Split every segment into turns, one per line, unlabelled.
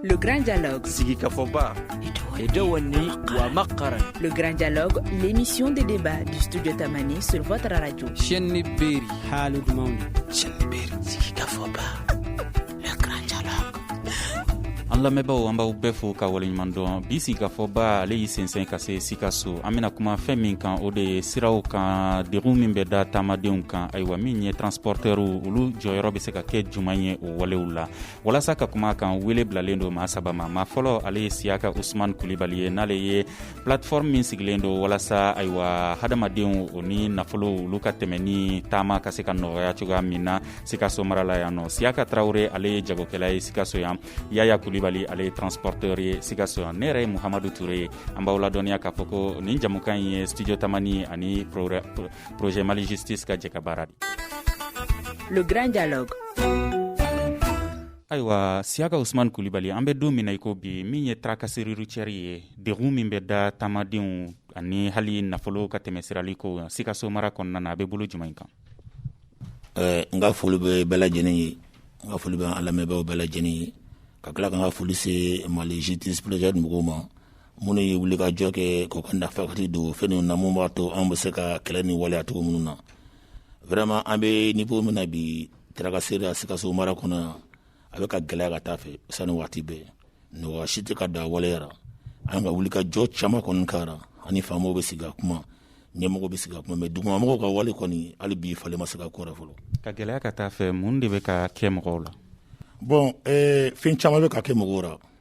Le Grand Dialogue.
Sigi Kafoba. Le Grand
Dialogue, l'émission des débats du Studio Tamani sur votre radio. Chenni Beri.
Halou Mauni.
Chenni Beri.
Sigi Kafoba.
Le Grand Dialogue.
an lamɛnbaaw an b'aw bɛɛ fo ka waleɲuman dɔn bi sigikafɔba ale y'i sensɛn ka se sikaso an bena kuma fɛn min kan o de ye siraw kan degun min bɛ da taamadenw kan ayiwa min ye transpɔrtɛrw olu jɔyɔrɔ be se ka kɛ juman ye walew la walasa ka kuma kan wele bilalen don maa saba ma maa fɔlɔ ale ye siyaka usman kulibali ye n'ale ye plateforme min sigilen don walasa ayiwa hadamadenw o ni nafolow olu ka tɛmɛ ni taama ka se ka nɔgɔya cogoya min na sikaso mara la yan nɔ siyaka tarawure ale ye jagokɛla ye sikaso yan yaya kulibali ale ye transporteur ye sikaso yan ne yɛrɛ ye muhamadu ture ye an b'aw ladɔnniya k'a fɔ ko nin jɛmukan ye studio tamani ani projet mali justice ka jɛkabaara
de le grand
dialogue ayiwa siyaka usman kulibali an bɛ don min na i ko bi min ye tracasserie routière ye degun min bɛ da taamadenw ani hali nafolo ka tɛmɛsirali ko sikaso mara kɔnɔna na a bɛ bolo jumɛn in kan
eh, n ka foli bɛ bɛɛ lajɛlen ye n ka foli bɛ an lamɛnbaaw bɛɛ lajɛlen ye ka tila ka n ka foli se mali justice projet mɔgɔw ma minnu ye wuli ka jɔ kɛ k'u ka nafakati don fɛn ninnu na mun b'a to an bɛ se k'a kɛlɛ ni waleya cogo minnu na vraiment an bɛ niveau min na bi tracasserie la sikaso mara kɔnɔ yan a bɛ ka gɛlɛya ka taa a fɛ sanga ni waati bɛɛ nɔgɔya si tɛ ka don a waleya la an ka wuli ka jɔ caman kɔni kɛra ani faamaw bɛ sigi ka kuma ɲɛmɔgɔ bɛ sigi ka kuma mais dugumamɔgɔw ka wale kɔni hali bi falen ma se ka k'o rɔ fɔlɔ ka gɛlɛya ka taa a fɛ
mun de bɛ ka kɛ mɔgɔw la bon eh,
fɛn caman bɛ ka kɛ mɔgɔw la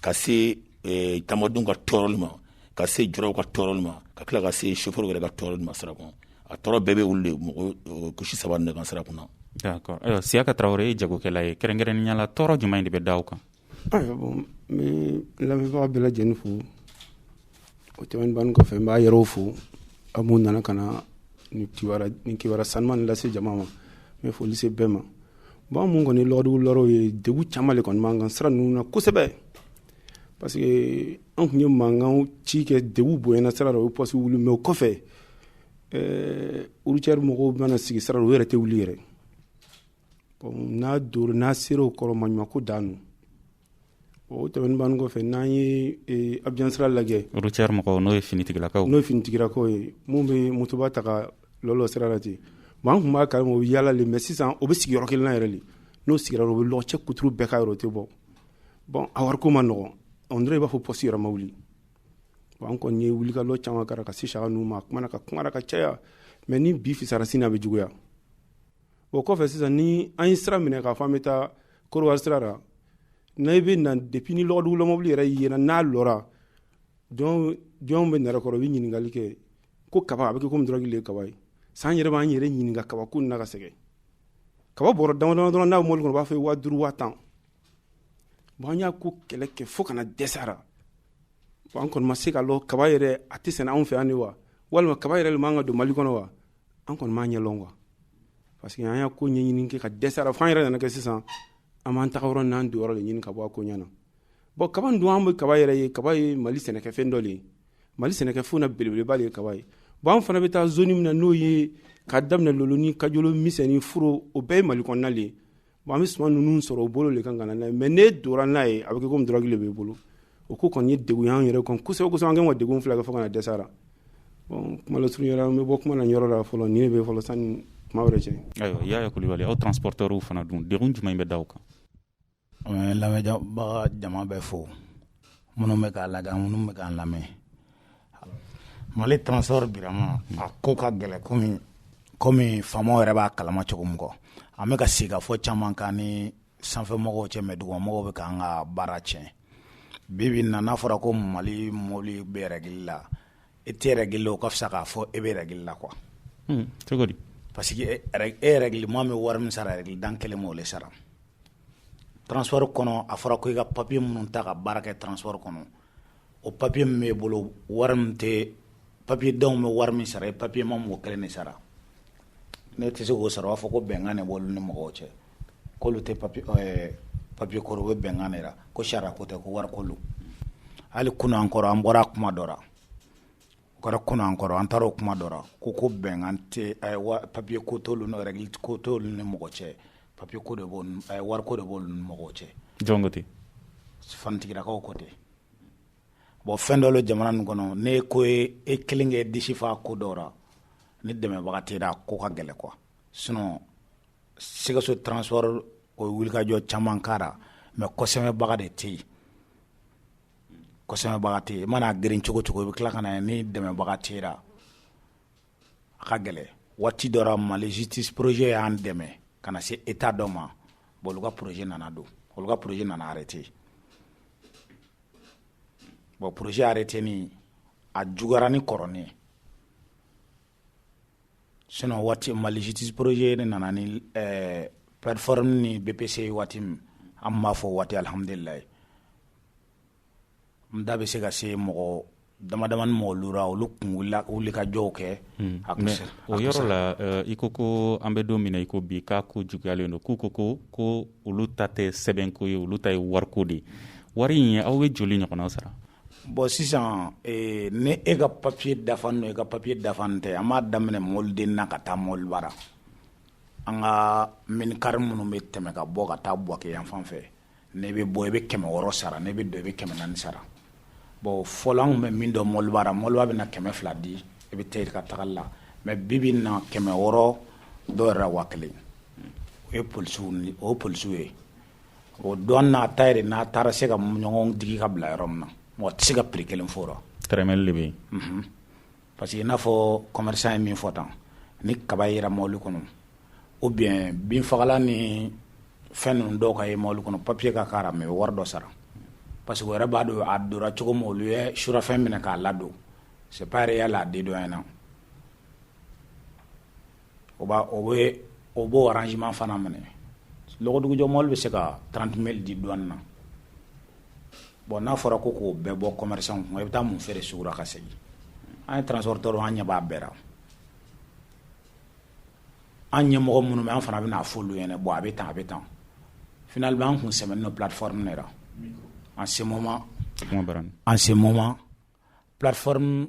ka se eh, taamadenw ka tɔɔrɔli ma ka se julaw ka tɔɔrɔli ma ka tila ka se chauffeur yɛrɛ ka tɔɔrɔli ma sira kɔnɔ a tɔɔrɔ bɛɛ bɛ olu de mɔgɔ eh, couche saba de kan sira kunna d'accord ayiwa
siyaka tarawele ye jagokɛla ye kɛrɛnkɛrɛnnenya la tɔɔrɔ jumɛn de bɛ da aw kan ayiwa bon
n bɛ lamɛnbaga bɛɛ lajɛlen fo O tɛmɛnen ban kɔfɛ n b'aw yɛrɛw fo aw minnu nana ka na ni kibaru sanuman nin lase jama ma n bɛ foli se bɛɛ ma bon an minnu kɔni lɔgɔdugulaw ye degun caman de kɔni b'an kan sira ninnu na kosɛbɛ parce que an tun ye mankan ci kɛ degun bonyana sira la o ye poste wuli mais o kɔfɛ routière mɔgɔw bɛna sigi sira la u yɛrɛ tɛ wuli yɛrɛ n'a don n'a sera o kɔrɔ maɲumanko dan don o tɛmɛn ban kɔfɛ n'an ye e, abijan sira lajɛ routière mɔgɔw n'o
ye finitigilakaw n'o ye finitigilakaw ye minnu bɛ
motoba ta ka lɔlɔ sira la ten bon an tun b'a kalama o bɛ yaala le mɛ sisan o bɛ sigi yɔrɔ kelen na yɛrɛ le n'o sigira o bɛ lɔgɔ cɛ kuturu bɛɛ ka yɔrɔ tɛ bɔ bon a wariko man nɔgɔn on dirait i b'a fɔ pɔsi yɛrɛ ma wuli bon an kɔni ye wulikajɔ caman kɛra ka se saga ninnu ma a kumana ka kumara ka caya mɛ ni bi fisara sini a bɛ juguya o kɔfɛ sisan ni an ye sira minɛ k'a fɔ an bɛ taa korowari sira la n'i bɛ na depuis ni lɔgɔdugula mɔbili yɛrɛ yera n'a lɔra jɔn jɔn bɛ nɛrɛ kɔrɔ u bɛ ɲininkali kɛ ko kaba a bɛ kɛ komi dɔrɔgi le ye kaba ye sisan an yɛrɛ b'an yɛrɛ ɲininka kaba ko na ka sɛgɛn kaba bɔrɔ dama dama dɔrɔn n'a bɛ mɔbili kɔnɔ u b'a fɔ waa duuru waa tan bon an y'a ko kɛlɛ kɛ fo ka na dɛsɛ a ra bon an kɔni ma se k'a lɔn kaba yɛrɛ a tɛ sɛnɛ anw fɛ yan de wa walima kaba yɛrɛ le man ka don mali kɔnɔ wa an kɔni m'a ɲɛ lɔn quoi parce que an y'a ko ɲɛɲini kɛ ka dɛsɛ a ra fo an yɛrɛ nana kɛ sisan an b'an taga yɔrɔ n'an don yɔrɔ de ɲini ka bɔ a ko ɲɛ na bɔn kaba dun an bɛ kaba yɛrɛ ye kaba ye mali sɛnɛkɛfɛn dɔ de ye mali sɛnɛkɛfɛnw na belebeleba de ye kaba ye bɔn an fana bɛ taa zoni min na n'o ye ka daminɛ loloni kajolo misɛni furu o bɛɛ ye mali kɔnɔna de ye Bon an bɛ suman ninnu sɔrɔ u bolo de kan ka na n'a ye mais n'e donna n'a ye a bɛ kɛ comme drogue de b'i bolo o ko kɔni ye degun ye an yɛrɛ kan kosɛbɛ kosɛbɛ an kɛlen don ka degun filɛ kɛ fo ka na dɛsɛ a la bon kuma lasurunya la an bɛ bɔ kuma na nin yɔrɔ la fɔlɔ nin de bɛ fɔlɔ sani kuma wɛrɛ cɛ. Ayiwa Yaya Kulibali
aw transporteurs fana dun degun jumɛn bɛ da aw kan? An bɛ lamɛnbaga
jama bɛɛ fo minnu bɛ k'an lajɛ ani minnu bɛ k'an lamɛn. Mali transport birama a ko ka gɛlɛn komi komi faamaw yɛrɛ b'a kalama cogo min kɔ an bɛ ka sigikafɔ caman k'an ni sanfɛmɔgɔw cɛ mais dugumamɔgɔw bɛ k'an ka baara tiɲɛ bi bi in na n'a fɔra ko Mali mɔbili bɛ règle la i tɛ règle la o ka fisa k'a fɔ e bɛ règle la quoi un cogo
di parce
que e règlema bɛ wari min sara règlentan kelen b'o de sara transport kɔnɔ a fɔra ko i ka papier minnu ta ka baara kɛ transport kɔnɔ o papiye min b'e bolo wari min tɛ papiyentan bɛ wari min sara papiyema b'o kelen de sara n'e tɛ se k'o sara u b'a fɔ ko bɛnkan de b'olu ni mɔgɔw cɛ k'olu tɛ papi papiye ko rɔ u bɛ bɛnkan de la ko sariya ko tɛ ko wari ko hali kunun an kɔrɔ an bɔra kuma dɔ o kɛra kunun an kɔrɔ an taara o kuma dɔ la ko ko bɛnkan tɛ wa papiye ko t'olu ni règle ko t'olu ni mɔgɔ cɛ papiye ko de b'o n a ye wari ko de b'olu ni mɔgɔw cɛ jɔn ko ten
fanitigilakaw
ko ten bon fɛn dɔ bɛ jamana nin kɔnɔ ne ko ye e kelen k'i disi fa ko dɔ la ni dɛmɛbaga t'i la a ko ka gɛlɛn quoi sinon Sikaso transport o ye wulikajɔ caman k'a la mais kɔsɛmɛbaga de tɛ yen kɔsɛmɛbaga tɛ yen, i mana a geren cogo cogo i bɛ tila ka na ni dɛmɛbaga t'i la, a ka gɛlɛn, waati dɔ la Mali justice projet y'an dɛmɛ ka na se Etat dɔ ma bon olu ka projet nana don, olu ka projet nana arrêter bon projet arrêtélen a juguyara ni kɔrɔlen ye. Sinon waati Mali justice projet de nana ni plateforme ni BPC ye waati min an b'a fɔ waati alihamdulilayi n da bɛ se ka se mɔgɔ damadamani mɔgɔlu ra olu tun wuli ka jɔw kɛ o
yɔrɔ la i ko ko an bɛ don min na i ko bi k'a ko juguyalen don k'u ko ko ko olu ta tɛ sɛbɛnko ye olu ta ye wariko de ye wari in aw bɛ joli ɲɔgɔnna sara Bon
sisan n'e ka papiye dafalen don e ka papiye dafalen tɛ an b'a daminɛ mɔbiliden na ka taa mɔbiliba ra an ka minikari minnu bɛ tɛmɛ ka bɔ ka taa Buwake yan fan fɛ n'i bɛ bɔ i bɛ kɛmɛ wɔɔrɔ sara n'i bɛ don i bɛ kɛmɛ naani sara bon fɔlɔ anw bɛ min dɔn mɔbiliba ra mɔgɔ bɛ na kɛmɛ fila di i bɛ taa i ka taga la mɛ bi i bɛ na kɛmɛ wɔɔrɔ dɔw yɛrɛ wa kelen o ye polisiw ye o douane ta yɛrɛ n'a taara se ka ɲɔgɔn digi ka bila yɔrɔ min na mɔgɔ tɛ se ka prix kelen fɔ tɛrɛmɛli de bɛ yen
parce
que i n'a fɔ commerçant ye min fɔ tan ni kaba yera mɔbili kɔnɔ ou bien binfagalan ni fɛn ninnu dɔw ka ye mɔbili kɔnɔ papiye ka k'a ra mɛ wari dɔ sara parce que o yɛrɛ b'a dɔn a donna cogo min olu ye surafɛn minɛ k'a ladon c'est pas réel a dédouane na o b'a o bɛ o b'o arrangement fana minɛ lɔgɔdugujɔ mɔbili bɛ se ka 30 mille di douane na bon n'a fɔra ko k'o bɛɛ bɔ commerçant kun i bɛ taa mun feere sugu la ka segin an ye transporteur an ɲɛ b'a bɛɛ la an ɲɛmɔgɔ minnu bɛ an fana bɛna a f'olu ɲɛna bon a bɛ tan a bɛ tan finalement an kun sɛmɛnen don plateforme de la en ce moment en ce moment plateforme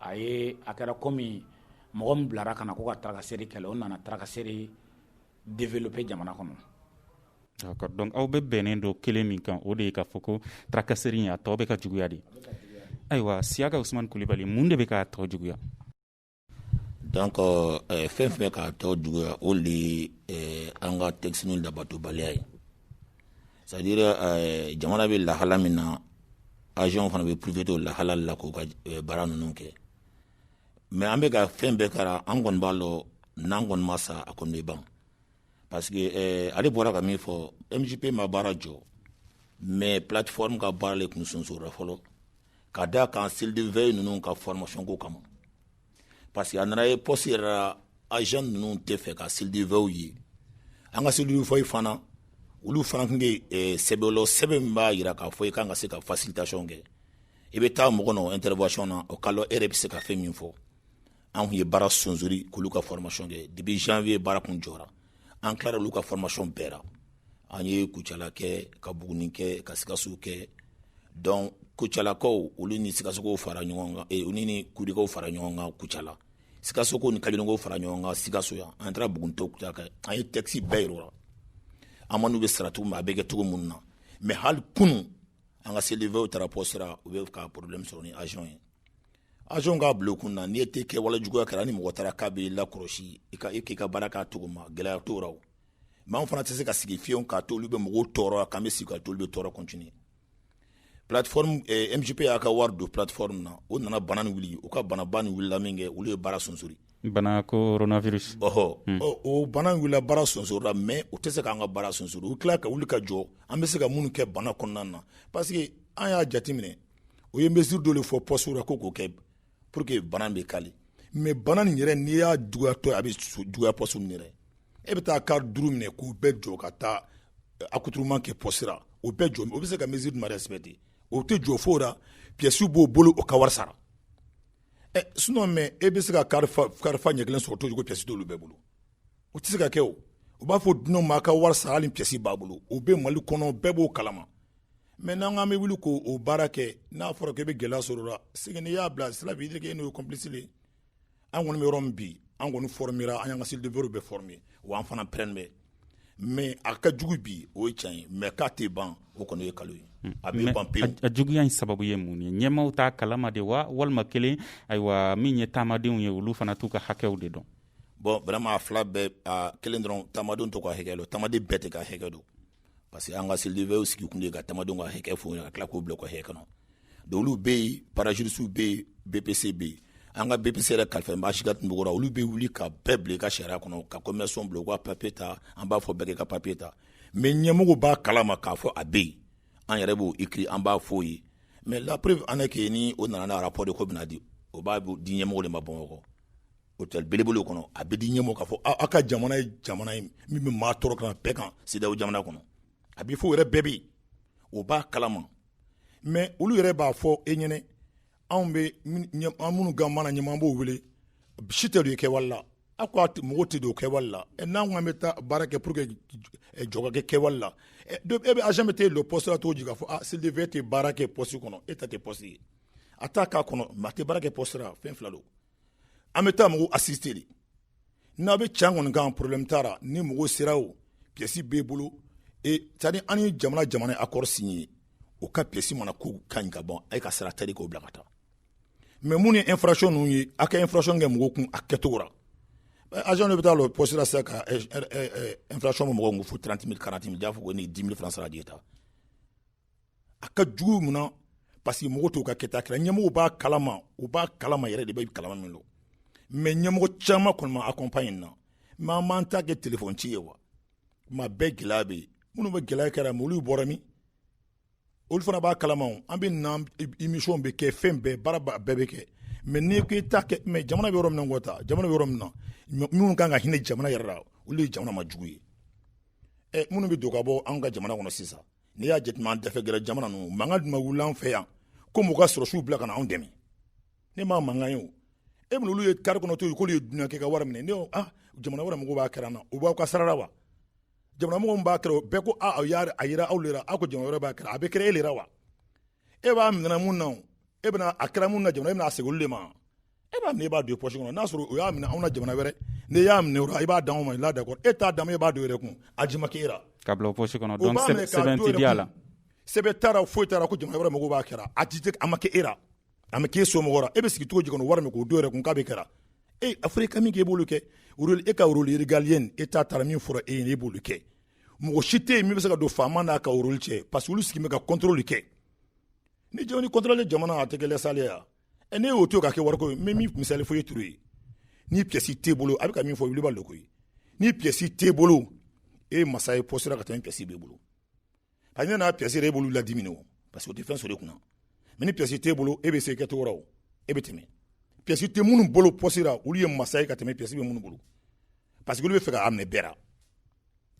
a ye a kɛra komi mɔgɔ min bilara ka na ko ka tarakaseri kɛlɛ o nana tarakaseri développer jamana kɔnɔ D'accord.
Donc aw bɛ bɛnnen don kelen min kan o de ye k'a fɔ ko tarakaseri in a tɔ bɛ ka juguya de ayiwa Siyaka Usumani Kulibali mun de bɛ k'a tɔ
juguya donc euh, euh, fɛn fɛn bɛ k'a tɔ juguya o de ye euh, an ka texte ninnu labatobaliya ye C'est-à-dire jamana bɛ lahala min na agentw fana bɛ profiter o lahala la k'u ka baara ninnu kɛ mɛ an bɛ ka fɛn bɛɛ k'a ra an kɔni b'a lɔn n'an kɔni ma sa a kɔni bɛ ban parce que ale bɔra ka min fɔ MJP ma baara jɔ mɛ plateforme ka baara de tun sonsora fɔlɔ ka da kan cellule de veille ninnu ka formation ko kama Parce que a nana ye poste yɛrɛ la agent ninnu tɛ fɛ ka cellule de veillew ye, an ka cellule de veillew fana olu fana tun bɛ ɛ sɛbɛn lɔn sɛbɛn min b'a jira k'a fɔ i kan ka se ka facilitation kɛ i bɛ taa mɔgɔ nɔ intervention na o k'a lɔn e yɛrɛ bɛ se ka fɛn min fɔ an tun ye baara sonsori k'olu ka formation kɛ depuis janvier baara tun jɔra an tilara olu ka formation bɛɛ la an ye kucala kɛ ka buguni kɛ ka sikaso kɛ donc kucalakaw olu ni sikasokaw fara ɲɔgɔn kan eh, ni kurikaw fara ɲɔgɔn kan kucala sikasokaw ni kajolokaw fara ɲɔgɔn kan sikaso yan an taara buguni k'u ta kɛ an ye texte bɛɛ yir'o la amendew bɛ sara cogo min a bɛ kɛ cogo minnu na mais hali kunun an ka cellule de veillew taara poste ra u bɛ ka problème sɔrɔ ni agent ye agent k'a b'olu kun na n'i ye tɛ kɛwale juguya kɛra ni mɔgɔ taara k'a b'i lakɔlɔsi i ka i k'i ka baara k'a cogo ma gɛlɛya t'o la mais anw fana tɛ se ka sigi fiyewu k'a to olu bɛ mɔgɔw tɔɔrɔ k'an bɛ sigi k'a to u bɛ tɔɔrɔ continuer plateforme eh, mjp y'a ka wari don plateforme na o nana bana nin wuli u ka banaba nin wulila min kɛ olu ye baara sonsori bana
coronavirus ɔhɔ hmm.
o bana wulila baara sonsorila mais o tɛ se k'an ka baara sonsori u tila ka wuli ka jɔ an bɛ se ka minnu kɛ bana kɔnɔna na parce que an y'a jateminɛ u ye mesure dɔ de fɔ postew la ko k'o kɛ pour que bana bɛ kali mais bana nin yɛrɛ n'i y'a juguyatɔ a bɛ juguya poste min yɛrɛ e bɛ taa car duuru minɛ k'u bɛɛ jɔ ka taa eh, attroupement kɛ poste ra o bɛɛ jɔ o bɛ c'est que mesure ma respecter o tɛ jɔ foyi la pièces b'o bolo o ka wari sara ɛ eh, sinon mais e bɛ se ka car fa car fa ɲɛ kelen sɔrɔ cogo di pièces t'olu bɛɛ bolo o tɛ se ka kɛ o u b'a fɔ dunanw ma a ka wari sara hali pièces b'a bolo o bɛ mali kɔnɔ bɛɛ b'o kalama mais n'an k'an bɛ wuli k'o baara kɛ n'a fɔra k'e bɛ gɛlɛya sɔr'o la c'est que n'i y'a bila ça veut dire e n'o ye complice an kɔni bɛ yɔrɔ min bi an kɔni formera an y'an ka cellule de veillew bɛɛ former wa an fana parelen bɛ mais a ka jugu bi o ye tiɲɛ ye mais k'a tɛ ban o kɔni ye nkalon ye a bɛ ban pewu a juguya in sababu
ye mun ye ɲɛmaaw t'a kalama de wa walima kelen ayiwa min ye taamadenw ye olu fana t'u ka hakɛw de dɔn bon vraiment a
fila bɛɛ kelen dɔrɔn taamadenw t'o ka hakɛ dɔn taamaden bɛɛ t'a ka hakɛ dɔn parce que an ka cellule de veillew sigi kun de ka taamadenw ka hakɛ fɔ ka tila k'o bila o ka hakɛ kɔnɔ donc olu bɛ yen parajuristew bɛ yen bpc bɛ yen an ka bpc yɛrɛ kalifalen bɛ sika tunbukɔrɔ olu bɛ wuli ka bɛɛ bila i ka sariya kɔnɔ ka commerçant bila u ka papier ta an b'a fɔ bɛɛ k'i ka papier ta mais ɲɛmɔgɔ b'a kalama k'a fɔ a bɛ yen an yɛrɛ b'o écrire an b'a fɔ ye mais la preuve en est que ni o nana n'a rapport de k'o bɛna di o b'a di ɲɛmɔgɔ de ma bamakɔ Hôtel belebele kɔnɔ a bɛ di ɲɛmaa ma k'a fɔ aw ka jamana ye jamana ye min bɛ maa tɔɔrɔ kan bɛɛ kan CEDEAO jamana kɔnɔ a bɛ fɔ yɛrɛ bɛɛ bɛ o b'a kalama mais olu yɛrɛ b'a fɔ e ɲɛ na anw bɛ an minnu ka mana ɲuman b'o wele si tɛ don i kɛwale la aw ka mɔgɔ tɛ don kɛwale la n'an kɔni bɛ taa baara kɛ pour que jɔ kɛ kɛwale la e bɛ a bɛ tɛ don poste cogo di k'a fɔ cellule de veille tɛ baara kɛ poste kɔnɔ e ta tɛ poste ye a taa k'a kɔnɔ mais a tɛ baara kɛ poste fɛn fila don an bɛ taa mɔgɔw assister le n'a bɛ can kɔni kan problème t'a ra ni mɔgɔw sera o pièce b'e bolo et c'est à dire an ni jamana jamana ye accord signé o ka pièce mana k'u ka ɲi ka ban a ye ka sara tari k'o bila ka taa mais mun ye infraction ninnu ye a ka infraction kɛ mɔgɔw kun a kɛcogo ra agent dɔ bɛ taa lɔ poste la sisan ka infraction bɛ mɔgɔ kun fo 30 000 40 000 y'a fɔ ko ni 10 000 francs sara a tigi ye taa a ka jugu mun na parce que mɔgɔ t'u ka kɛta kɛra ɲɛmɔgɔw b'a kalama u b'a kalama yɛrɛ de b'a kalama min don mais ɲɛmɔgɔ caman kɔni ma accompagne na mais an m'an ta kɛ téléphone ci ye wa ma bɛɛ gɛlɛya bɛ yen minnu bɛ gɛlɛya kɛra mais olu bɔra min olu fana b'a kalama an bɛ na émission bɛ kɛ fɛn bɛɛ baara bɛɛ bɛ kɛ mais n'i ko i ta kɛ mais jamana bɛ yɔrɔ min na ko ta jamana bɛ yɔrɔ min na minnu kan ka hinɛ jamana yɛrɛ la olu ye jamana ma jugu ye ɛ minnu bɛ don ka bɔ an ka jamana kɔnɔ sisan n'i y'a jateminɛ an dafɛ gɛrɛ jamana ninnu mankan dun ma wuli an fɛ yan ko mɔgɔ ka sɔrɔsiw bila ka na anw dɛmɛ ne m'a mankan ye o e bɛna olu ye kari kɔnɔ to yen k'olu ye dunan kɛ ka wari minɛ ne ko ah jamana wɛrɛ mɔgɔw b'a kɛra na u b'aw ka sara ra wa jamana mɔgɔw b'a kɛra bɛɛ ko ah aw y'a a yira aw le ra aw ko jamana wɛrɛ b'a kɛra a bɛ kɛra e le ra wa e b'a minɛna mun na e bɛna a kɛra mun na jamana e bɛna a segin olu le ma e b'a minɛ e b'a don i poche kɔnɔ n'a sɔrɔ o y'a minɛ anw na jamana wɛrɛ n'i y'a minɛ o la i b'a d'anw ma là d'accord e t'a d'a ma e b'a don i yɛrɛ kun a ji ma k'e la ka bila o poche kɔnɔ
donc sɛbɛn tɛ di a la sɛbɛn t'a la foyi
t'a la ko jamana wɛrɛ mɔgɔw b'a kɛra a ji a ma kɛ e la a ma k'e somɔgɔ la e bɛ sigi cogo di kɔnɔ wari min k'o don yɛrɛ kun k'a bɛ kɛra e a fɔra i ka min kɛ i b'olu kɛ e ka rôle régalien e t'a tara min fɔra e ye e b'olu kɛ mɔgɔ si tɛ yen min bɛ se ka don faama n'a ka rôle cɛ parce que olu sigilen bɛ ka contrôle kɛ ni jɔn ni contrôle jamana a tɛ kɛ laisser aller ye wa ɛ ne y'o to ka kɛ wariko ye n bɛ min misali fɔ ye ture ni pièce t'e bolo a bɛ ka min fɔ wuli b'a loko ye ni pièce t'e bolo e ye masa ye poste ra ka tɛmɛ ni pièce b'e bolo a ɲɛ n'a pièce yɛrɛ e b'olu ladimi o parce que o tɛ fɛn sɔrɔ e kunna mais ni pièce t'e bolo e bɛ se kɛcogo la o e bɛ tɛmɛ pièce tɛ minnu bolo poste ra olu ye masa ye ka tɛmɛ pièce bɛ minnu bolo parce que olu b'a fɛ k'a minɛ bɛɛ ra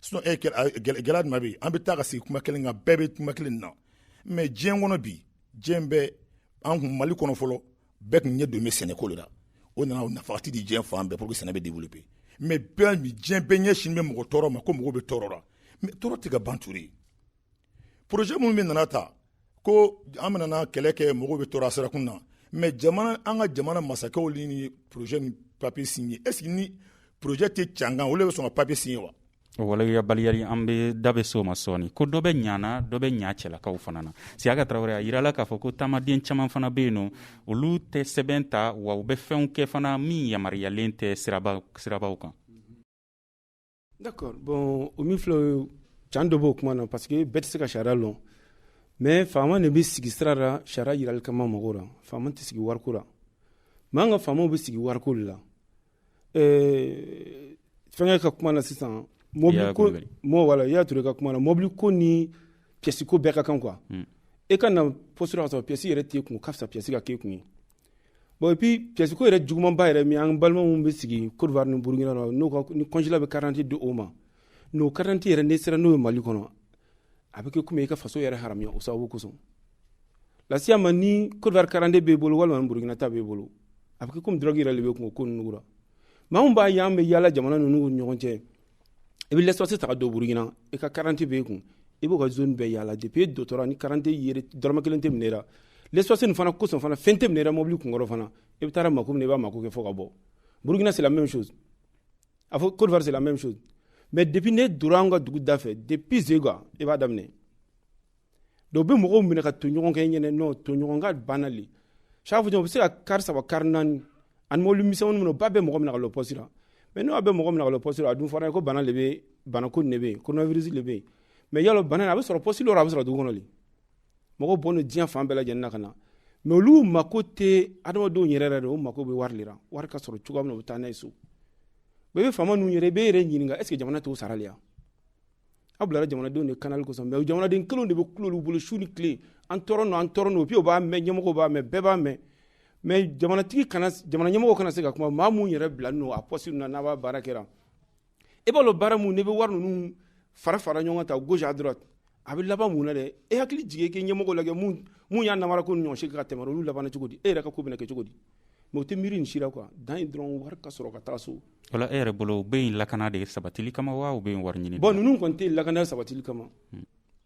sinon e gɛlɛya jumɛn bɛ yen an bɛ taa ka sigi kuma kelen kan bɛɛ bɛ kuma kelen na mais diɲɛ kɔnɔ bi diɲɛ bɛ an kun mali kɔnɔ fɔlɔ bɛɛ tun ɲɛ don bɛ sɛnɛko de la o nana o nafati di diɲɛ fan bɛɛ pour que sɛnɛ bɛ développer mais bɛɛ bi diɲɛ bɛɛ ɲɛsin bɛ mɔgɔ tɔɔrɔ ma ko mɔgɔ bɛ tɔɔrɔ la mais tɔɔrɔ tɛ ka ban ture projet minnu bɛ nana ta ko an bɛna kɛlɛ kɛ mɔgɔw bɛ tɔɔrɔ sirakun na mais an ka jamana masakɛw ni projet ni papier signé est ce que ni projet tɛ can kan olu bɛ sɔn ka papier signé wa o waleyabaliya
le an bɛ da bɛ so ma sɔɔni ko dɔ bɛ ɲana dɔ bɛ ɲa cɛlakaw fana na siyaka tarawele a yirala k'a fɔ ko taamaden caman fana bɛ yen n'olu tɛ sɛbɛn ta wa u bɛ fɛnw kɛ fana min yamaruyalen tɛ sirabaw kan
D'accord bon o min filɛ can dɔ b' o kuma na parce que bɛɛ tɛ se ka sariya dɔn mais faama de bɛ sigi sira la sariya jirali kama mɔgɔw la faama tɛ sigi wariko la mais an ka faama bɛ sigi wariko la ɛɛ fɛnkɛ ka kuma na sisan mɔbili ko mɔgɔ wala i y'a to ka kuma na mɔbili ko ni pièce ko bɛɛ ka kan quoi e ka na pɔsi ka sɔrɔ pièce yɛrɛ t'i kun ka fisa pièce ka k'e kun ye bon et puis pièce ko yɛrɛ jugumanba yɛrɛ min an balima minnu bɛ sigi Côte d'Ivoire ni Burkina na n'o ka ni consulat bɛ carte d'identité di o ma n'o carte d'identité yɛrɛ n'i sera n'o ye Mali kɔnɔ a bɛ kɛ comme i ka faso yɛrɛ haramuya o sababu kosɔn lasiya ma ni Côte d'Ivoire carte d'identité b'i bolo walima ni Burkina ta b'i bolo a bɛ kɛ comme drogue yɛrɛ de b'e kun o ko ninnu la maa min b'a ye an bɛ yaala jamana ninnu ni ɲɔgɔn cɛ i bɛ laissez-passer ta ka don Burkina i ka carte d'identité bɛ e kun i b'o ka zone bɛɛ yaala depuis e dora ni carte d'identité yɛrɛ dɔrɔmɛ kelen tɛ minɛ la laissez-passer nin fana kosɔn fana fɛn tɛ minɛ la mɔbili kunkɔrɔ fana i bɛ taara mako min i b'a mako kɛ fo ka bɔ Burkina c'est la même chose a fɔ Côte d'Ivoire c'est la même chose mais depuis n'e dora an ka dugu da fɛ depuis Zégoua i b'a daminɛ dɔw bɛ mɔgɔw minɛ ka ton ɲɔgɔn kan yen ne n'o ton ɲɔgɔn kan bana le chaque fois u bɛ se ka kari saba kari naani ani mobili misɛnmani minɛ ba bɛ mɔgɔ minɛ ka lɔ pɔsi la mais n'o bɛ mɔgɔ minɛ ka lɔ pɔsi la a dun fɔra ko bana le bɛ bana ko nin de bɛ yen coronavirus le bɛ yen mais yala bana in a bɛ sɔrɔ pɔsi le rɔ a bɛ sɔrɔ dugu kɔnɔ le mɔgɔw bɔlen don diɲɛ fan bɛɛ lajɛlen na ka na mais olu mako tɛ adamadenw yɛrɛ yɛrɛ de o mako bɛ wari le la wari ka sɔrɔ cogoya min na u bɛ taa n'a ye so mais i bɛ faama ninnu yɛrɛ i b'i yɛrɛ ɲininka est ce que jamana t'o sara le ya aw bilara jamanadenw de kanali kosɔn mais jamanaden kelen de bɛ kulo olu bolo su ni tile an tɔɔrɔ nɔ an tɔɔrɔ nɔ puis u b'a mɛn ɲɛmɔgɔ b'a mɛn bɛɛ b'a mɛn mais jamanatigi kana jamana ɲɛmɔgɔ kana se ka kuma maa minnu yɛrɛ bila n'o a pɔsi na n'a b'a baara kɛra i b'a dɔn baara minnu n'i bɛ wari ninnu fara fara ɲɔgɔn kan ta gauche à droite a bɛ laban mun na dɛ e hakili jigin k'e ɲɛmɔgɔ lajɛ mun y'a namara ko ɲɔgɔn si ka tɛmɛ olu labanna cogo di e yɛrɛ ka ko bɛna kɛ cogo di mais o tɛ miiri nin si ra quoi dan ye dɔrɔn wari ka sɔrɔ ka taa so voilà e yɛrɛ
bolo u bɛ yen lakana de sabatili kama wa u bɛ yen wari ɲini bon ninnu kɔni tɛ lakana
sabatili kama hmm.